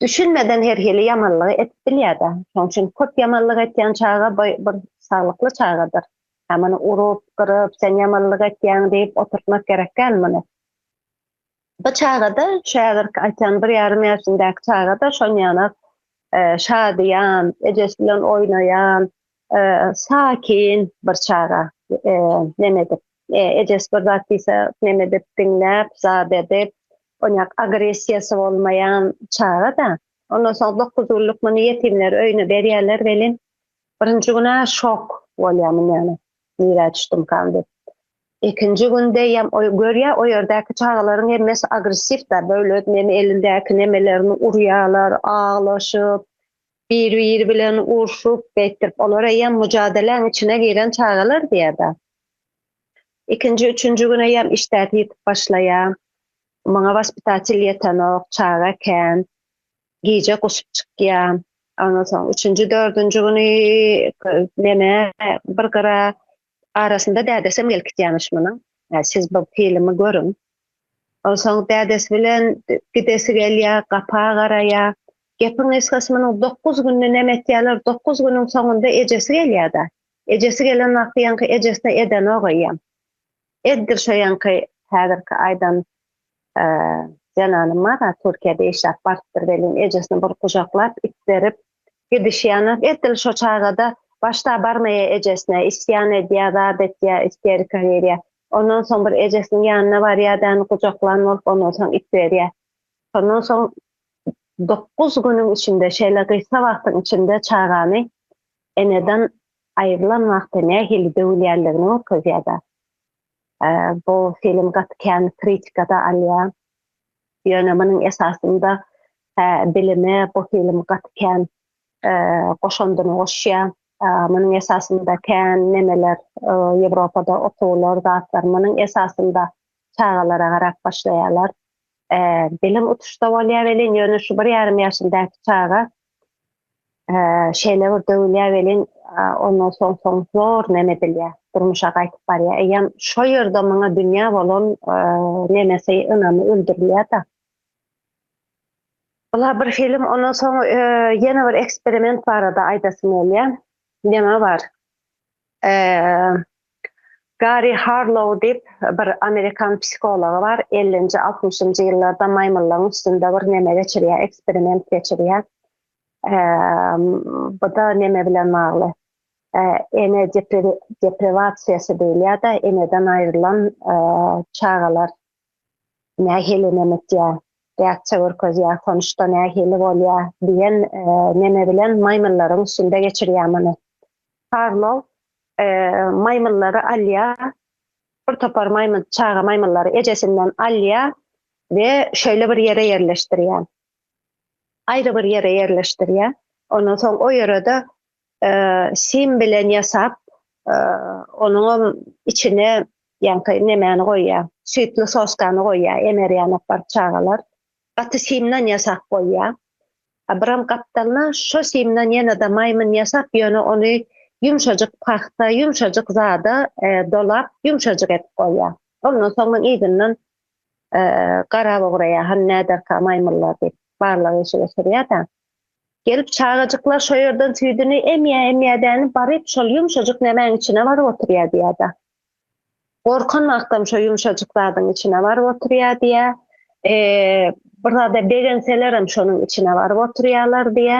düşünmeden her hili ýamanlygy edip bilýär-de. Şoň üçin köp ýamanlyk etýän çaga bir saglykly çagadyr. Ýa muny urup, gyryp, sen ýamanlyk etýäň diýip oturtmak gerek däl muny. Bu çaga-da, şu häzirki aýtýan bir ýarym ýaşyndäki çaga-da şonýanak şadyýan, ejesi bilen oýnaýan, sakin bir çaga. Neme edip, ejesi bir zat diýse, neme edip, diňläp, zat edip, onýak agressiýasy bolmaýan çaga-da. Ondan soň dokuz günlük muny ýetimler öýüne berýärler welin, Birinji gün-ä şok bolýamyn ýaly, nirä düşdümkam diýip. Ikinji gün deýýäm, oý, görýä, o ýerdäki çagalaryň hemmesi agressiw-dä, böyle neme elindäki nemelerini urýarlar, aglaşyp, bir-biri bilen urşup, beýtdirip, olar eýýäm müjadeleň içine giren çagalar diýýär-dä. Ikinji, üçünji gün eýýäm işdäsi ýitip başlaýar. Maňa waspitatel ýetenok, çaga kän. gije guşup çykýan. Ondan soň üçünji, dördünji güni meme bir gyra arasynda dädesem gelip gitýämiş munuň. Siz bu filmi görüň. Ondan soň dädesi bilen gidesi gelýär, gapa garaýar. Gepiň gysgasy munuň dokuz günde neme etýärler, dokuz günüň soňunda ejesi gelýär-de. Ejesi gelen wagty ýaňky ejesine edenok eýýäm. Eddir şoýanky häzirki aýdan zenany Mara Türkiýede işläp barypdyr welin ejesini bir gujaklap itderip gidişýäner edil şo çagada başda barmaýa ejesine isýan edýä zat etýä isterika girýä ondan soň bir ejesiniň ýanyna barýa däni gujaklan bolup ondan soň itberýä şondan soň dokuz günüň içinde şeýle gysga wagtyň içinde çagany eneden aýrylan wagtda nähili döwülýändigini görkezýär-de. Bu film gaty kän kritika-da alýar. Ýöne munuň esasynda bilime bu film gaty kän goşandyny goşýar. Munuň esasynda kän nemeler Ýewropada okuwlar, zatlar munuň esasynda çagalara garap başlaýarlar. Bilim utuşda bolýar welin, ýöne şu bir ýarym ýaşyndäki çaga şeýle bir döwülýär welin, ondan soň soň zor nem edilýär, durmuşa gaýtyp barýar. Eýýäm şo ýerde maňa dünýä bolan nemesi, ynamy öldürilýär-de. Bular bir film, ondan soň ýene bir eksperiment barada aýdasym gelýär. Neme bar? Gary Harlow diýip bir amerikan psihology bar, ellinji, altmyşynjy ýyllarda maýmyllaryň üstünde bir neme geçirýär, eksperiment geçirýär. Bu-da neme bilen bagly, ene deprewasiýasy diýilýär-de, eneden aýrylan çagalar nähili nemetýä, däkçe görkezýä, tonuşda nähili bolýa diýen neme bilen maýmyllaryň üstünde geçirýä muny. Karlow maýmyllary alýa, bir topar maýmyl, çaga maýmyllary ejesinden alýa we şeýle bir ýere ýerleşdirýä. Aýry bir ýere ýerleşdirýä. Ondan soň o ýere-de Sim bilen ýasap, onuňam içine ýaňky nemäni goýýar, süýtli soskany goýýar, emerýän apar çagalar. Gaty simden ýasap goýýar. A biram gapdalyna şo simden ýene-de maýmyn ýasap, ýöne ony ýumşajyk pagta, ýumşajyk zada dolap, ýumşajyk edip goýýar. Ondan soň muň yzyndan garap ugraýar, hany näderka maýmynlar diýip, barlag işi geçirýär-de. Gelip çagajyklar şo ýerden süýdüni emýä-emýädäni baryp şol ýumşajyk nämäň içine baryp oturýa diýädä. Gorkan wagtam şo ýumşajyk zadyň içine baryp oturýa diýä. Bir zada begenselerem şonuň içine baryp oturýalar diýä.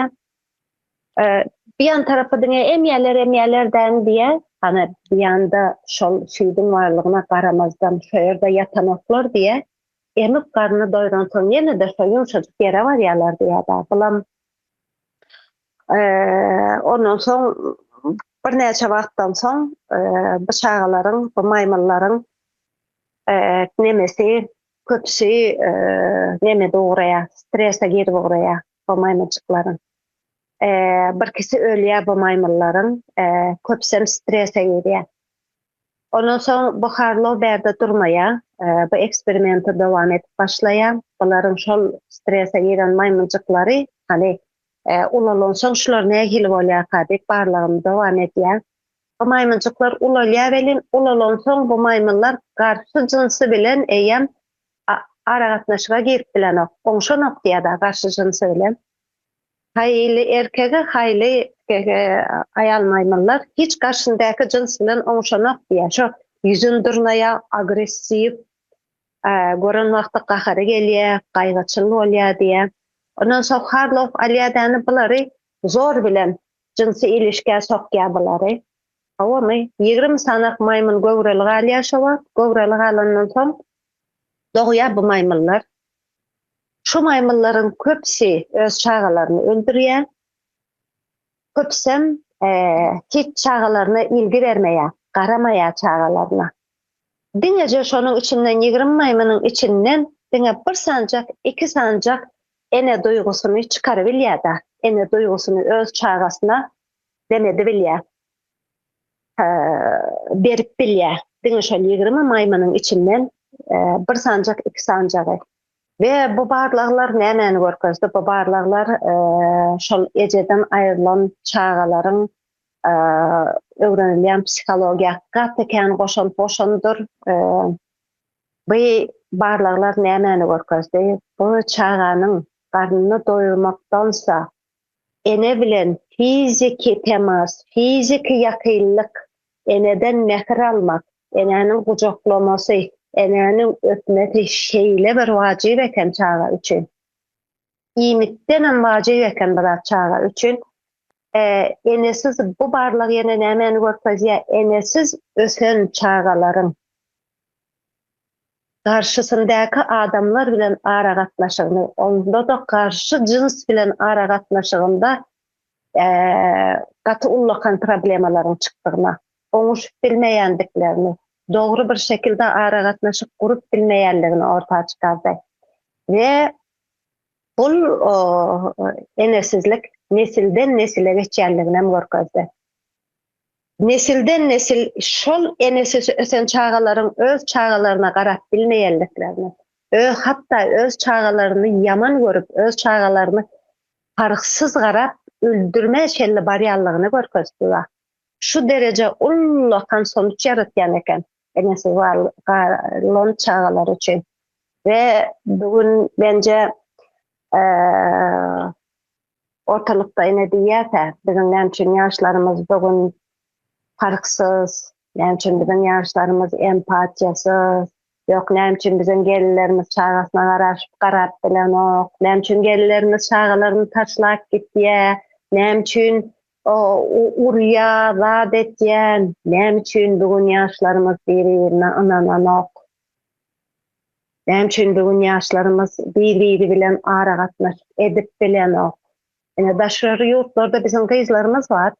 Biýan tarapy diňe emýäler-emýälerdäni diýä. Hany biýanda şol süýdüň barlygyna garamazdan şo ýerde ýatanoklar diýä. Emip garny doýransoň ýene-de şo ýumşajyk ýere barýarlar diýýär-dä. Bulam ondan soň birnäçe wagtdan soň bu çagalaryň, bu maýmyllaryň nemesi köpüsi nemede ugraýar, strese girip ugraýar bu maýmynjyklaryň. Birkisi ölýär bu maýmyllaryň, köpüsem strese girýär. Ondan soň bu Harlow bärde durmaýar, bu eksperimenti dowam edip başlaýar. Bularyň şol strese giren maýmynjyklary, hany, ulalansoň şular nähili bolýarka diýip barlagyny dowam edýär. Bu maýmynjyklar ulalýar welin, ulalansoň bu maýmynlar garşy jynsy bilen eýýäm aragatnaşyga girip bilenok, oňşanok diýýär-de garşy jynsy bilen. Haýyly erkege, haýyly pige aýal maýmynlar hiç garşyndaky jyns bilen oňuşanok diýýär. Şo ýüzün dyrnaýar, agressiw, gören wagty gahary gelýär, gaýgyçyl bolýar diýýär. Ondan soň harlap alýar däne bulary, zor bilen jynsy ilişgä sokýar bulary. Howamy, ýigrimi sanak maýmyn göwreli galýar şo wagt, göwreli galandan soň dogýar bu maýmynlar. Şu maýmynlaryň köpüsi öz çagalaryny öldürýär. Köpüsem hiç çagalaryna ilgi bermeýär, garamaýar çagalaryna. Diňeje şonuň içinden ýigrimi maýmynyň içinden diňe bir sanjak, iki sanjak ene duýgusyny çykarybilýär-de, ene duýgusyny öz çagasyna demedibilýär. berip bilýär. Diňe şol ýigrimi maýmynyň içinden bir sanjak, iki sanjagy. We bu barlaglar nämäni görkezdi? Bu barlaglar şol ejeden aýrylan çagalaryň öwrenilýän psihologiýa gaty kän goşant goşandyr. Bu barlaglar nämäni görkezdi? Bu çaganyň garnyny doýurmakdansa, Ene bilen fiziki temas, fiziki ýakynlyk, eneden mähir almak, enäniň gujaklamasy, enäniň öpmesi şeýle bir wajyp eken çaga üçin. Iýmitdenem wajyp eken bu zat çaga üçin. Enesiz bu barlyk ýene nämäni görkezýär? Enesiz ösen çagalaryň garşysyndaky adamlar bilen aragatnaşygyny, onda-da garşy jyns bilen aragatnaşygynda gaty ullakan problemalaryň çykdygyna, oňuşyp bilmeýändiklerini, dogry bir şekilde aragatnaşyk gurup bilmeýändigini orta çykardy we bul enesizlik nesilden-nesile geçýändiginem görkezdi. Nesilden-nesil şol ene süti ösen çagalaryň öz çagalaryna garap bilmeýändiklerini, öz hatda öz çagalaryny ýaman görüp, öz çagalaryny parhsyz garap öldürmä çenli barýanlygyny görkezdi we şu dereje ullakan sonuç ýaratýan eken enesiz galan çagalar üçin we bu gün menje ortalykda ine diýýärkä, biziň näme üçin ýaşlarymyz bu gün parhsyz, näme üçin biziň ýaşlarymyz empatiýasyz, ýok näme üçin biziň gelinlerimiz çagasyna garaşyp garap bilenok, näme üçin gelinlerimiz çagalaryny taşlap gitýär, näme üçin urýar, zat etýär, näme üçin bu gün ýaşlarymyz biri-birine ynananok. Näme üçin bu gün ýaşlarymyz bir-biri bilen aragatnaşyk edip bilenok? Ine, daşary ýurtlarda biziň gyzlarymyz bar.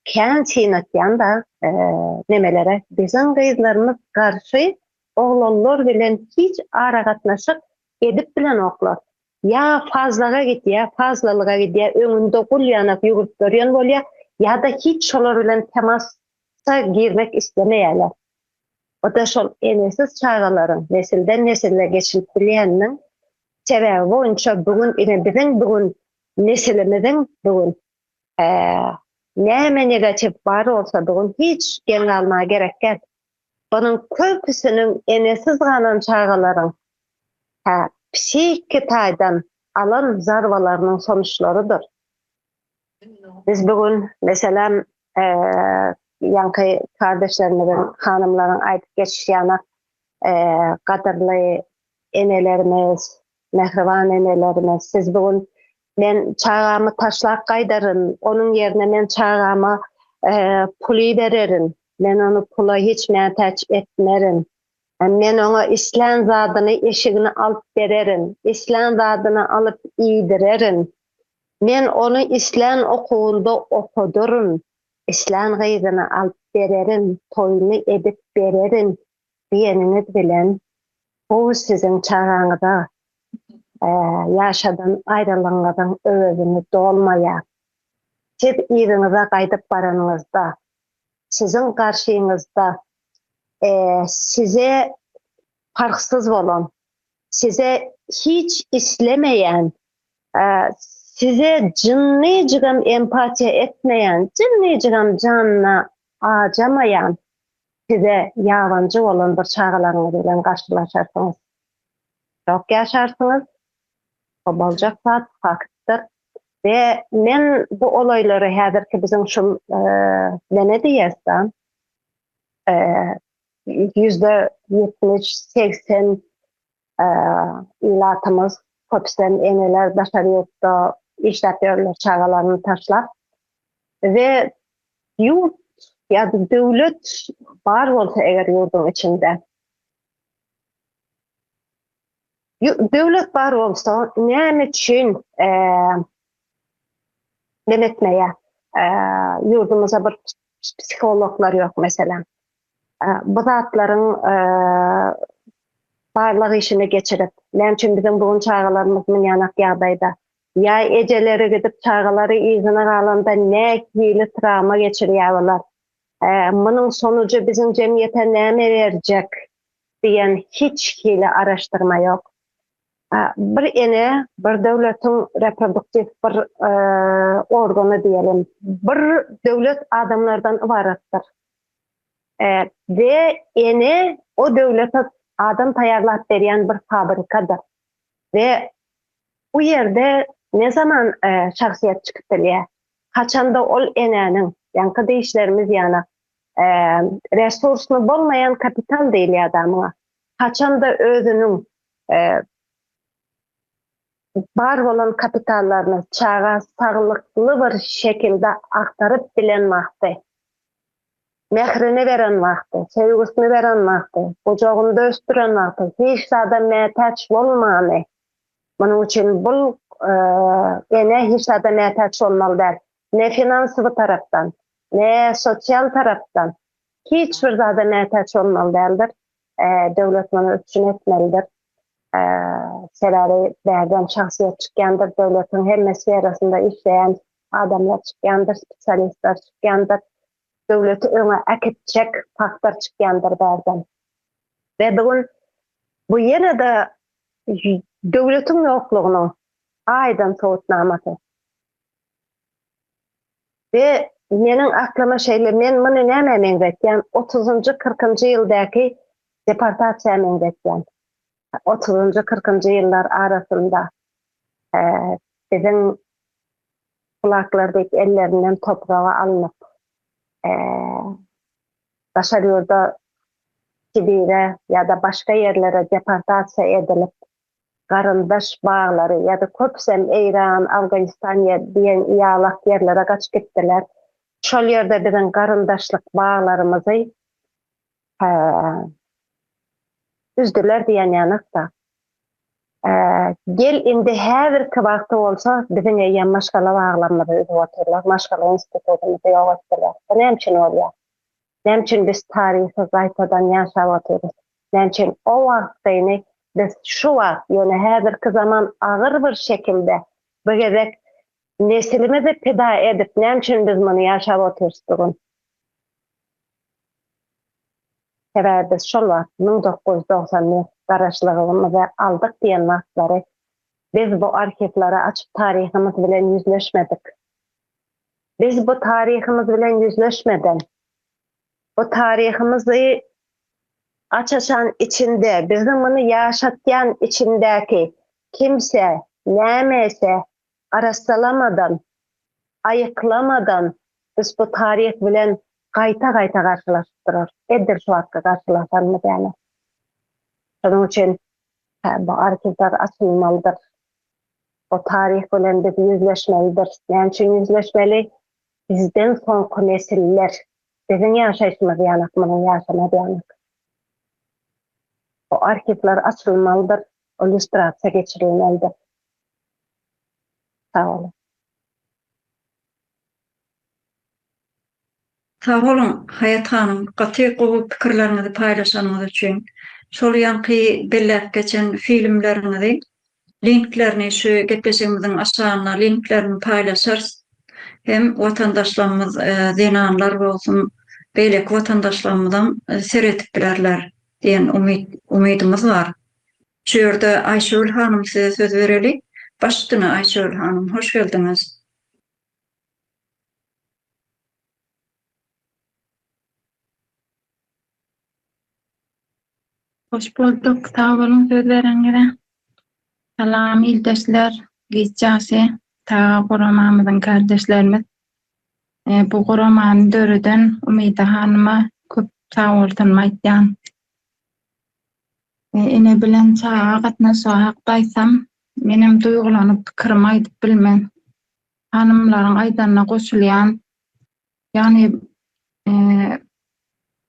Kän synatýan-da nemelere, biziň gyzlarymyz garşy oglanlar bilen hiç aragatnaşyk edip bilenoklar. Ýa fazlaga gidýär, fazlalyga gidýär, öňünde gul ýanak ýüwrüp ýörýän bolýar, ýa-da hiç şolar bilen temasa girmek islemeýärler. Bu-da şol enesiz çagalaryň nesilden-nesile geçilip bilýäniniň sebäbi boýunça bu gün ine biziň bu gün nesilimiziň bu gün näme negatiw bar bolsa bu gün hiç geň galmaga gerek däl. Bunuň köpüsiniň enesiz galan çagalaryň hä psihiki taýdan alan zarbalarynyň sonuçlarydyr. Biz bu gün meselem ýaňky kardeşlerimiziň, hanymlaryň aýdyp geçişýana gadyrly enelerimiz, mähriban enelerimiz, siz bu gün men çagamy taşlap gaýdaryn, onuň ýerine men çagama puly bererin, men ony pula hiç mätäç etmerin, men oňa islän zadyny, eşigini alyp bererin, islän zadyny alyp iýdirerin, Men ony islän okuwynda okadyryn, islän gyzyny alyp bererin, toýuny edip bererin diýeniňiz bilen, bu siziň çagaňyza ýaşadan aýralygyňyzyň öwezini dolmaýar. Siz yzyňyza gaýdyp baranyňyzda, siziň garşyňyzda size parhsyz bolan, size hiç islemeýän, size jynnyjygam empatiýa etmeýän, jynnyjygam janyny ajamaýan, size ýabanyjy bolan bir çagalaryňyz bilen garşylaşarsyňyz. Şok ýaşarsyňyz. Bu boljak zat, faktdyr. We men bu olaýlary häzirki biziň şul Wenediýesda ýüzde ýetmiş, segsen ilatymyz, köpüsem eneler daşary ýurtda işläp ýörler çagalaryny taşlap we ýurt ýa-da döwlet bar bolsa eger ýurduň içinde, Döwlet bar bolsa, näme üçin men etmeýär? Ýurdumyzda bir psihologlar ýok meselem. Bu zatlaryň barlag işini geçirip, näme üçin biziň bu gün çagalarymyz münýanak ýagdaýda? Ýa ejeleri gidip çagalary yzyna galanda nähili trawma geçirýär olar? Munuň sonuçy biziň jemgyýete näme berjek? diýen hiç hili araşdyrma ýok. Bir ene bir döwletiň reproduktiw bir organy diýelim. Bir döwlet adamlardan ybaratdyr. We ene o döwlete adam taýýarlap berýän bir fabrikadyr. We bu ýerde ne zaman şahsyýet çykyp bilýär? Haçanda ol enäniň, ýaňky dişlerimiz ýaly, resursly bolmaýan kapital diýilýär da muňa. Haçanda özüniň bar bolan kapitallaryny çaga saglykly bir şekilde agtaryp bilen wagty, mährini beren wagty, söýgüsini beren wagty, gujagynda ösdüren wagty hiç zada mätäç bolmany, munuň üçin bul ene hiç zada mätäç bolmaly däl, ne finansowy tarapdan, ne sosial tarapdan hiç bir zada mätäç bolmaly däldir. Döwlet muny üpjün etmelidir. Sebäbi bärden şahsyýet çykýandyr, döwletiň hemme sferasynda işleýän adamlar çykýandyr, spesialistler çykýandyr. Döwleti öňe äkitjek faktor çykýandyr bärden. We bu gün bu ýene-de döwletiň ýoklugynyň aýdyň subutnamasy. We meniň aklyma şeýle, men muny nämä meňzetýän, otuzynjy, kyrkynjy ýyldäki deportasiýa meňzetýän. Otuzynjy, kyrkynjy ýyllar arasynda biziň kulaklar diýip ellerinden topraga alnyp, daşary ýurda, Sibire ýa-da başga ýerlere deportasiýa edilip, garyndaş baglary ýa-da köpüsem Eýran, Awganistan ýa diýen ýalak ýerlere gaçyp gitdiler. Şol ýerde biziň garyndaşlyk baglarymyzy üzdüler diýenýanak-da. Gel indi häzirki wagty bolsa biziň eýýäm maşgala baglarymyzy üzüp otyrlar, maşgala institutymyzy ýok etdiler. Bu näme üçin bolýar? Näme üçin biz taryhy gaýtadan ýaşap otyrys? Näme üçin o wagtkyny biz şu wagt, ýöne häzirki zaman agyr bir şekilde bu gezek nesilimizi pida edip, näme üçin biz muny ýaşap otyrys bu gün? Sebäbi biz şol wagt müň dokuz ýüz togsan bir Garaşlylygymyzy aldyk diýen wagtlary biz bu arhiwleri açyp taryhymyz bilen ýüzleşmedik. Biz bu taryhymyz bilen ýüzleşmeden, bu taryhymyzy aç-açan içinde, bizi muny ýaşatýan içindäki kimse, nämese arassalamadan, aýyklamadan biz bu taryh bilen gaýta-gaýta garşylaşyp durarys. Edil şu wagtky garşylaşanmy dälä? Şonuň üçin, hä, bu arhiwler açylmalydyr. O taryh bilen biz ýüzleşmelidiris. Näme üçin ýüzleşmeli? Bizden soňky nesiller, biziň ýaşaýşymyz ýanak, munuň ýaşamaz ýanak. O arhiwler açylmalydyr, o lýustrasiýa geçirilmelidir. Sag boluň. Sag boluň Haýat hanym gaty gowy pikirleriňizi paýlaşanyňyz üçin. Şol ýaňky belläp geçen filmleriňizi linklerini şu gepleşigimiziň aşagynda linklerini paýlaşarys. Hem watandaşlarymyz zenanlar bolsun beýleki watandaşlarymyzam seredip bilerler diýen umyt umydymyz bar. Şu ýerde Aýşegül hanym size söz bereli. Baş üstüne Aýşegül hanym hoş geldiňiz. Hoş bolduk, sag boluň sözleriňize. Salam ildeşler, giç ýaşy Taga guramamyzyň kardeşlerimiz, bu guramany döreden Umyda hanyma köp sagbolsunymy aýtýan. Ene bilen çaga gatnaşygy hakda aýtsam, menem duýgulanyp pikirimi aýdyp bilmen. Hanymlaryň aýdanyna goşulýan. Ýagny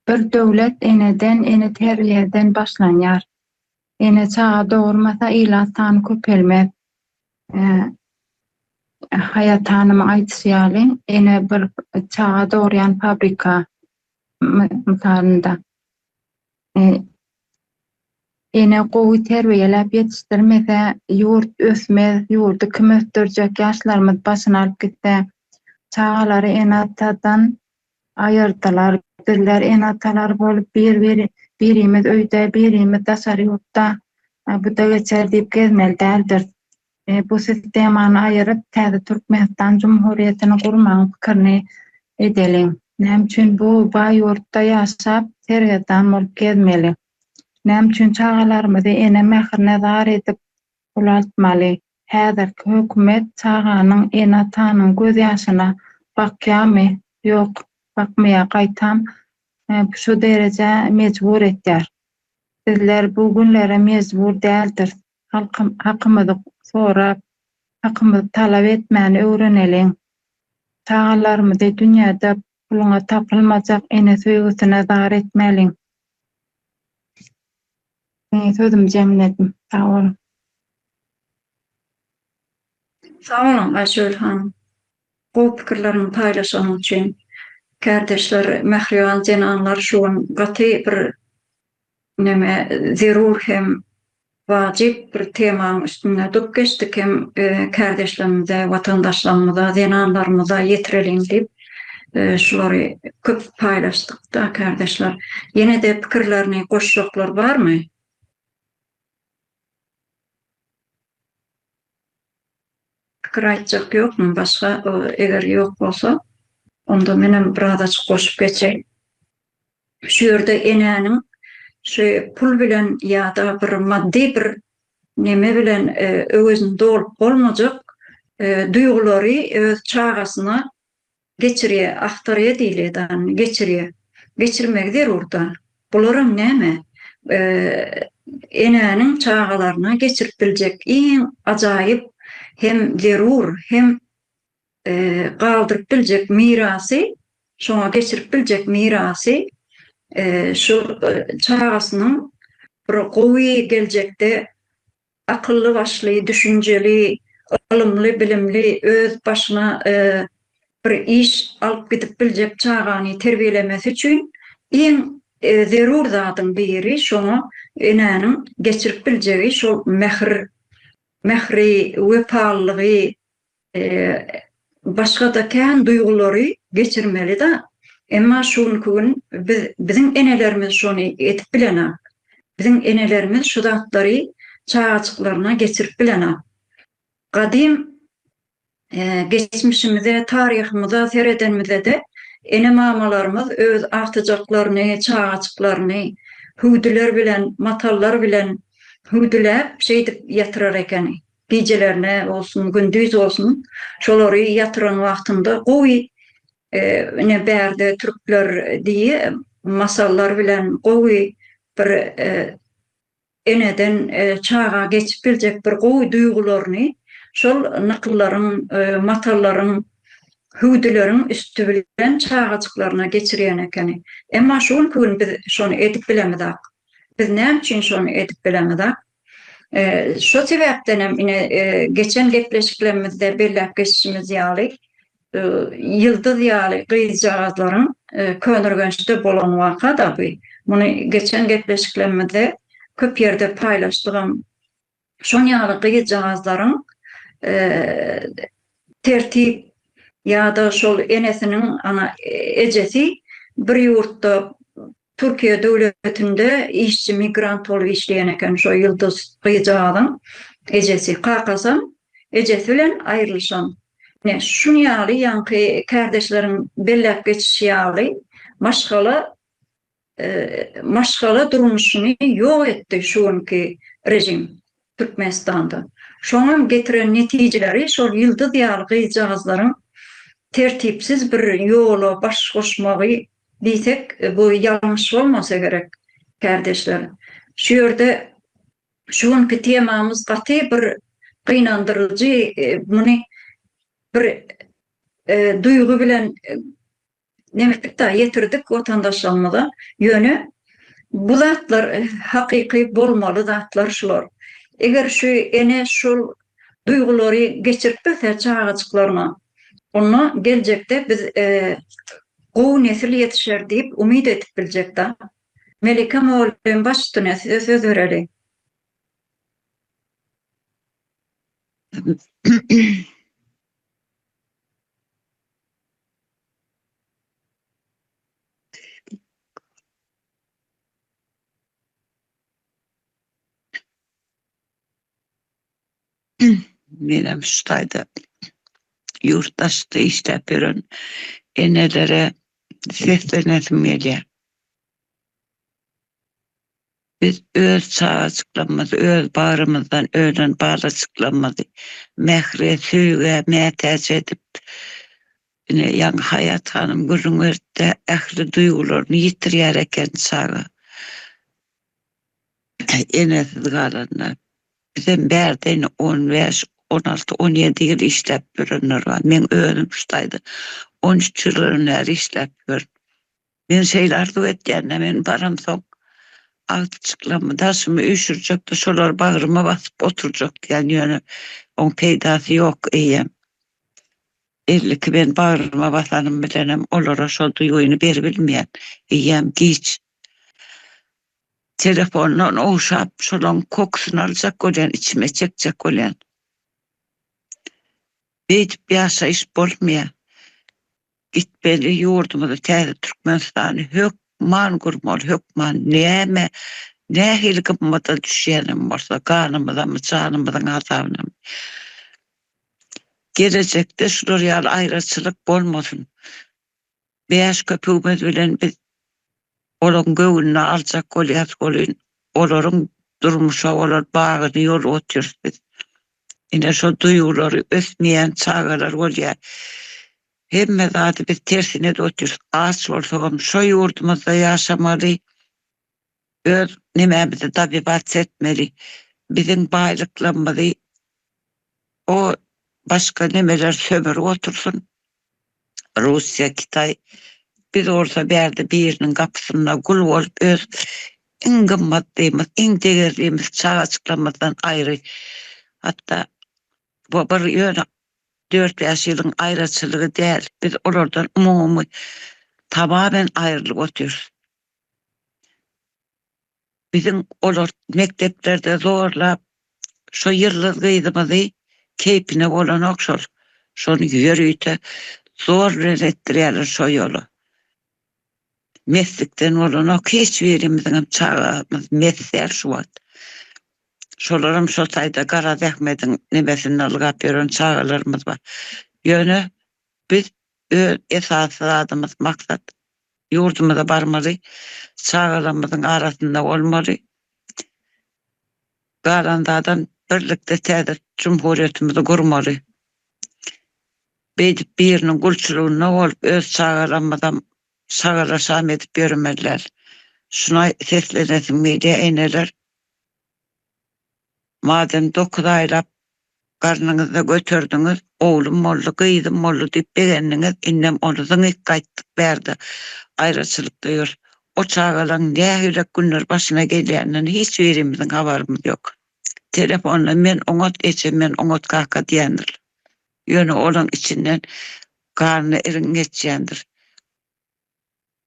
bir döwlet eneden, ene terbiýeden başlanýar. Ene çaga dogurmasa ilat sany köpelmez. Haýat hanymyň aýdyşy ýaly, ene bir çaga dogurýan fabrika mysalynda. Ene gowy terbiýeläp ýetişdirmese, ýurt ösmez, ýurdy kim ösdürjek, ýaşlarymyz başyny alyp gitse. Çagalary ene-atadan aýyrdylar. Bizler ene-atalar bolup bir-biri birimiz öýde, birimiz daşary ýurtda, bu-da geçer diýip gezmeli däldiris. bu sistemany aýyryp, täze Türkmenistan Jumhuriýetini gurmagyň pikirini edeliň. Näme üçin bu baý ýurtda ýaşap, sergezdan bolup gezmeli? Näme üçin çagalarymyzy ene mährine zar edip ulaltmaly? Häzirki hökümet çaganyň, ene-atanyň gözýaşyna bakýarmy? Ýok, bakmaýar, gaýtam, şu derejä mejbur etýär. Bizler bu günlere mejbur däldiris. Halkym hakymyzy sorap, hakymyzy talap etmäni öwreneliň. Çagalarymyzy dünýäde puluňa tapylmajak ene söýgüsine zar etmäliň. Meniň sözüm jemledim. Sag boluň. Sag boluň Aýsöýül hanym. Gowy pikirleriňi paýlaşanyň üçin. Kärdeşler, mähriban zenanlar şu gün gaty bir Näme zerur hem wajyp bir temaň üstünde durup geçdik hem kärdeşlerimize, watandaşlarymyza, zenanlarymyza ýetireliň diýip şulary köp paýlaşdyk-da kärdeşler. Ýene-de pikirlerini goşjaklar barmy? Pikir aýtjak ýokmy başga eger ýok bolsa onda menem birazajyk goşup geçeýin. Şu ýerde enäniň şü pul bilen ýada bir maddy bir neme bilen öwezini dolup bolmajak duýgulary öz çagasyna Geçirýä, agtarýa diýilýä dany, geçirýä. Geçirmegi zerur da. Bularam näme? Enäniň çagalaryna geçirip biljek iň ajaýyp hem zerur hem galdyryp biljek mirasy, şoňa geçirip biljek mirasy şul çagasynyň bir gowy geljekde akylly başly, düşünjeli, ylymly, bilimli, öz başyna bir iş alyp gidip biljek çagany terbiýelemesi üçin iň zerur zadyň biri şoňa enäniň geçirip biljegi şol mähir, mähri, wepalylygy, Başga-da kän duýgulary geçirmeli-dä. Emma şu günki gün biz, biziň enelerimiz şony edip bilen-ä. Biziň enelerimiz şu zatlary çagajyklaryna geçirip bilen-ä. Gadym geçmişimize, taryhymyza seredenimizde-de, ene-mamalarymyz öz agtyjaklaryny, çagajyklaryny hüwdüler bilen, matallar bilen hüwdüläp, şeýdip ýatyrar ekeni. Gijelerine bolsun, gündiz bolsun, şolary ýatyran wagtynda gowy, ine bärde türkler diýi masallar bilen gowy bir eneden çaga geçip biljek bir gowy duýgularyny şol nykyllaryň, matallaryň, hüwdüleriň üsti bilen çagajyklaryna geçirýän ekeni. Emma şu günki gün biz şony edip bilemizak. Biz näme üçin şony edip bilemizak? Şo sebäpdenem, ine, geçen gepleşiklerimizde belläp geçişimiz ýaly, Ýyldyz ýaly gyzjagazlaryň Könürgençde bolan waka-da bu. Muny geçen gepleşiklerimizde köp ýerde paýlaşdygam. Şon ýaly gyzjagazlaryň tertip ýa-da şol enesiniň, ana, ejesi bir ýurtda Türkiýe döwletinde işçi migrant bolup işleýän eken şo Ýulduz gyzjagazyň ejesi. Kakasam ejesi bilen aýrylyşan. Ine, şun ýaly ýaňky kärdeşleriň belläp geçişi ýaly maşgala maşgala durmuşyny ýok etdi şu günki režim. Türkmenistanda. Şoňam getiren netijeleri şol Ýyldyz ýaly gyzjagazlaryň tertipsiz bir ýola baş goşmagy diýsek, bu ýalňyş bolmasa gerek, kärdeşler. Şu ýerde şu günki temamyz gaty bir gynandyryjy, muny bir duýgy bilen Nebitlik dagy ýetirdik watandaşlarymyza. Ýöne bu zatlar hakyky bolmaly zatlar şular. Eger şu ene şol duýgulary geçirip bilse çagajyklaryna, onda geljekde biz gowy nesil ýetişer diýip umyt edip biljek da. Melike mugallym baş üstüne size söz bereli. Menem şu taýda ýurt daşda işläp ýören enelere seslenesim gelýär. Biz öz çagajyklarymyzy öz bagrymyzdan ölen balajyklarymyzy mähre, söýgä mätäç edip, ine, ýaňy Haýat hanym gürrüň beripdi, ähli duýgularyny ýitirýär eken çaga. Enesiz galanda. Bizem bärde indi on bäş, on alty, on ýedi ýyl işläp ýörenler bar. Meň özüm şu taýda on üç ýyldan bäri işläp ýörün. Men şeýle arzuw etýän-de, men baramsoň, agty çyklamy, daşymy üýşürjek-de, şolary bagryma basyp oturjakdýan, ýöne oň peýdasy ýok, eýýäm. Belli ki, men bagryma basanym bilenem olara şol duýgyny beribilmeýän, eýýäm giç. Telefondan ogşap, şolaň kokusyny aljak bolýan, içime çekjek bolýan. Beýdip ýaşaýyş bolmaýar. Gitmeli ýurdumyzy täze Türkmenistany hök man gurmaly hökman näme nähili gymmada düşýänem bolsa ganymyzamy janymyzyň azabynamy gelejekde şular ýaly aýraçylyk bolmasyn bäş köpügimiz bilen biz Olaryň göwnüni aljak bolýas welin, olaryň durmuşa bolan bagyny ýolgatýarys biz. Ine, şo duýgulary ösmeýän çagalar bolýar. Hemme zady biz tersine edip otyrys. Aç bolsagam şo ýurdumyzda ýaşamaly, öz nemämizi dabibats etmeli. Biziň baýlyklarymyzy o başga nemeler sömürip otursyn. Russiýa, Kitay, biz bolsa bärde biriniň gapysynda gul bolup öz iň gymmatlymyz, iň degerlimiz çagajyklarymyzdan aýry, hatda bu bir ýöne dört-bäş ýylyň aýraçylygy däl, biz olardan umumy, tamamen aýrylyp otyrys. biziň olar mekdeplerde zorlap şo ýyldyz gyzymyzy keýpine bolanok şol şony ýörite zor bilen etdirýäler şo ýola meslikden bolanok hiç birimiziňem çagamyz mes däl şu wagt şolaram şo taýda garaz ahmediň nemesinde ylgap ýören çagalarymyz bar ýöne biz Öz esasy zadymyz maksat ýurdumyza barmaly çagalarymyzyň arasynda bolmaly galandadan birlikde täze jumhurýetimizi gurmaly beýdip biriniň gulçulygynda bolup öz çagalarymyzam şagala şam edip ýöremezler şuna seslenesim gelýä eneler Madem dokuz aýlap garnyňyzda göterdiňiz, oglum boldy, gyzym boldy diýip begendiňiz, indem ony zyňyk gaýtdyk bärde aýraçylykda ýör. O çagalaň nähilek günler başyna gelýänden hiç birimiziň habarymyz ýok. Telefonda men oňat eje, men oňat kaka diýendirler. Ýöne olaň içinden garny iriň geçýändir.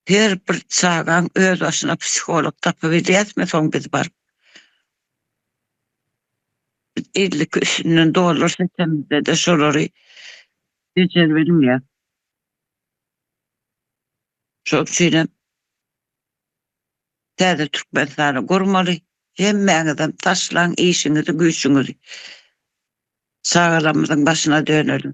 her bir çagaň öz başyna psiholog tapybilýäsmi soň biz baryp? Biz ellik üstünden dollar seçemizde-de şolary bejerbilmeýäs. Şol üçinem täze Türkmenistany gurmaly, hemmäňizem taşlaň işiňizi, güýçüňizi, çagalarymyzyň başyna döneliň.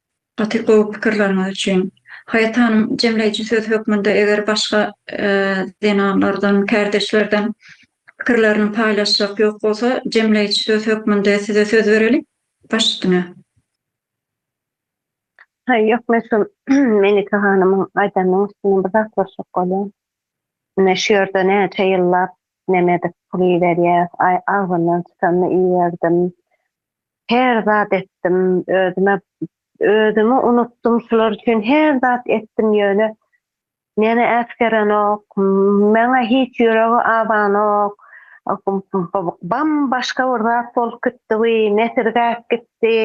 Gaty gowy pikirleriňiz üçin. Haýat hanym jemleýji söz hökmünde eger başga zenanlardan, kärdeşlerden pikirlerini paýlaşjak ýok bolsa jemleýji söz hökmünde size söz bereli baş üstüne. Haý ýok men şul Melike hanymyň aýdanynyň üstüne bir zat goşjak bolýan. Ine şu ýerde näçe ýyllap neme edip pul iberýäs, aý agzyndan çykanyny iberdim. Her zat etdim özüme özümi unutdym şular üçin her zat etdim ýöne meni äsgerenok maňa hiç ýüregi abanok bam başga bir zat bolup gitdi wi nesirgäp gitdi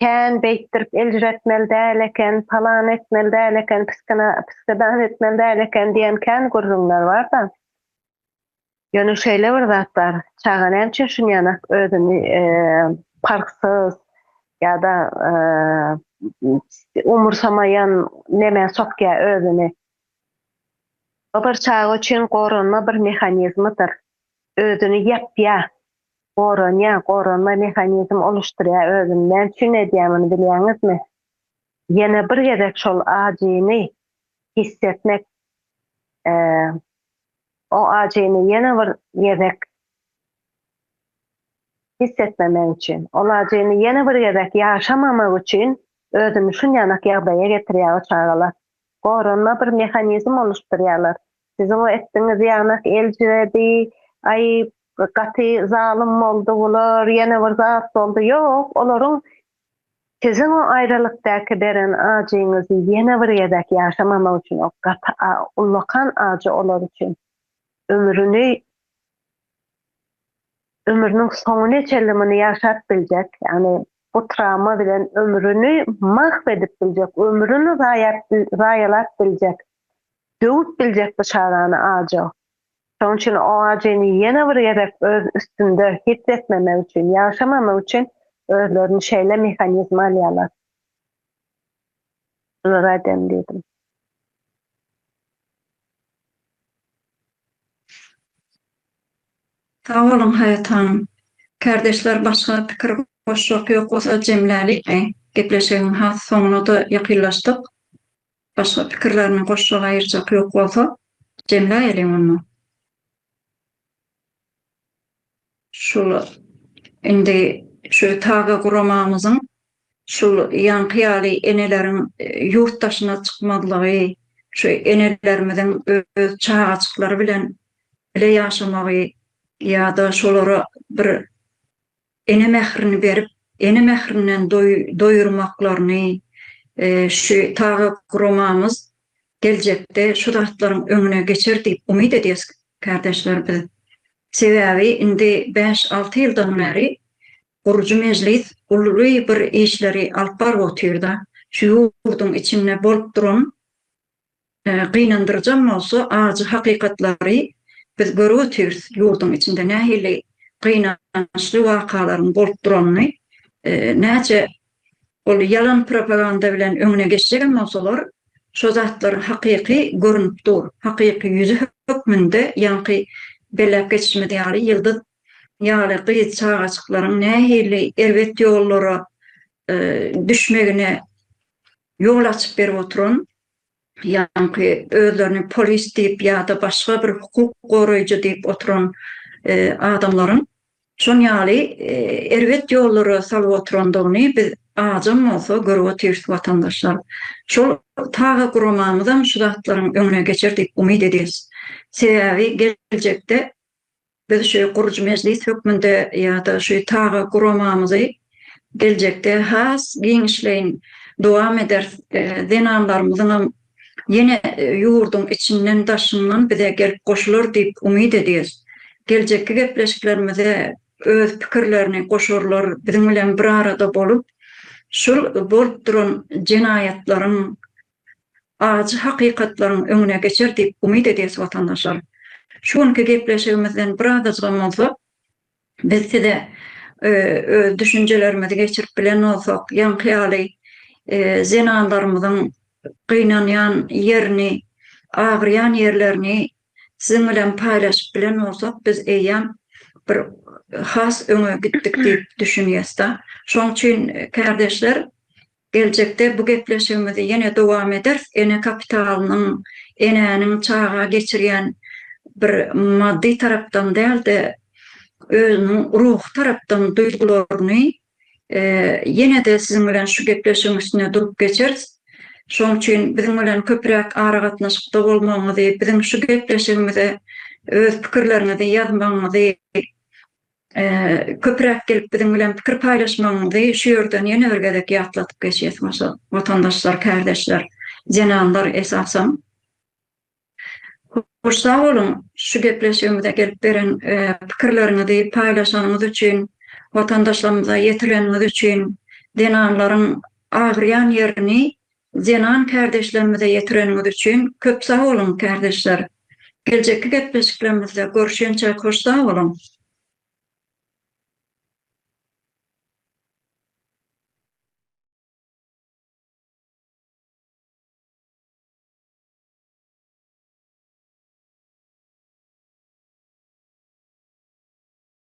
kän beýtdirip eljiretmeli däl eken palany etmeli däl eken piskina piskadan etmeli däl eken diýen kän gürrüňler barda Ýöne şeýle bir zat bar, çaga nämçe şunýanak özüni parhsyz ýa-da umursamaýan nämä sokýar özüni? Bu bir çaga üçin goranma bir mehanizmidir. Özüni ýapýar, goranýar, goranma mehanizm oluşdurýar özüni. Näme üçin edýär muny bilýäňizmi? Ýene bir gezek şol ajyny hiss etmek Oň ajyny ýene bir gezek hiss etmemek üçin, ol ajyny ýene bir gezek ýaşamamak üçin özüni şunýanak ýagdaýa getirýär o çagalar. Goranma bir mehanizm oluşdurýarlar. Siziň o etdigiňiz ýanak eljiredi, aý, gaty zalym boldy bular, ýene bir zat boldy, ýok, olaryň Siziň o aýralykdaky beren ajyňyzy ýene bir gezek ýaşamamak üçin o gaty a ullakan ajy olar üçin ömrüni ömrüniň soňuna çenli muny ýaşap biljek ýagny bu trawma bilen ömrüni mahw edip biljek ömrüni zaýap zaýalap biljek döwüp biljek bu çagany ajy Şonuň üçin OAJ-ni ýene bir gezek öz üstünde hiss etmemek üçin, ýagşamamak üçin özlerini şeýle mehanizme alýarlar. Şular aýdaýyn diýdim. Sag boluň Haýat hanym. Kärdeşler başga pikir goşjak ýok bolsa jemläliňmi? Gepleşigiň has soňuna-da ýakynlaşdyk. Başga pikirlerini goşjak aýyrjak ýok bolsa, jemläýeliň onda. Şul indi şu taze guramamyzyň şul ýaňky ýaly eneleriň ýurt daşyna çykmazlygy, şu enelerimiziň öz çagajyklary bilen bile ýaşamagy ýa-da şolara bir Ene mährini berip, ene mährinden doýurmaklaryny şu taga guramamyz geljekde şu zatlaryň öňüne geçer diýip umyt edýäs kärdeşler biz. Sebäbi indi bäş-alty ýyldan bäri gurujy mejlis uly bir işleri alyp baryp otyrda, şu ýurduň içinde bolup duran Gynandyryjam bolsa ajy hakykatlary biz görüp otyrs ýurduň içinde nähili gynançly wakalaryň bolup duranyny näçe ol ýalan propaganda bilen öňüne geçjegem bolsalar şo zatlaryň hakyky görünip dur hakyky ýüzi hökmünde ýaňky belläp geçişimiz ýaly Ýyldyz ýaly gyz çagajyklaryň nähili erbet ýollara düşmegine Ýol açyp berip oturan, ýaňky özlerini polis diýip ýa-da başga bir hukuk goraýjy diýip oturan adamlaryň şon ýaly erbet ýollara salyp oturandygyny biz ajam bolsa görüp otyrs watandaşlar. Şol taga guramamyzam şu zatlaryň öňüne geçer diýip umyt edýäs. Sebäbi geljekde Biz şu gurujy mejlis hökmünde ýa-da şu taga guramamyzy geljekde has giňişleýin dowam ederis. Zenanlarymyzyňam ýene ýurduň içinden, daşyndan bize gelip goşular diýip umyt edýäs. Geljekki gepleşiklerimize öz pikirlerini goşarlar, biziň bilen bir arada bolup, şul bolup duran jenaýatlaryň ajy hakykatlaryň öňüne geçer diýip umyt edýäs watandaşlar. Şu günki gepleşigimizden bir azajygam bolsa biz size öz düşünjelerimizi geçirip bilen bolsak, ýaňky ýaly zenanlarymyzyň gynanýan ýerini, agyrýan ýerlerini siziň bilen paýlaşyp bilen bolsak biz eýýäm bir has öňe gitdik diýip düşünýäs-de. Şoň üçin kärdeşler Geljekde bu gepleşigimizi ýene dowam ederis. Ene kapitalynyň, enäniň çaga geçirýän bir maddy tarapdan däl-de, özüniň ruhy tarapdan duýgularyny ýene-de siziň bilen şu gepleşigiň üstünde durup geçeris. Şonuň üçin biziň bilen köpräk aragatnaşykda bolmagyňyzy, biziň şu gepleşigimize öz pikirleriňizi ýazmagyňyzy Köpüräk gelip biziň bilen pikir paýlaşmagyňyzy şu ýerden ýene bir gezek ýatladyp geçýäs watandaşlar, kärdeşler, zenanlar esasan. Hoş sag boluň şu gepleşigimize gelip beren pikirleriňizi paýlaşanyňyz üçin, watandaşlarymyza ýetireniňiz üçin, zenanlaryň agyrýan ýerini Zenan kärdeşlerimize ýetireniňiz üçin köp sag boluň kärdeşler. Geljekki gepleşiklerimizde görüşençäk hoş sag boluň.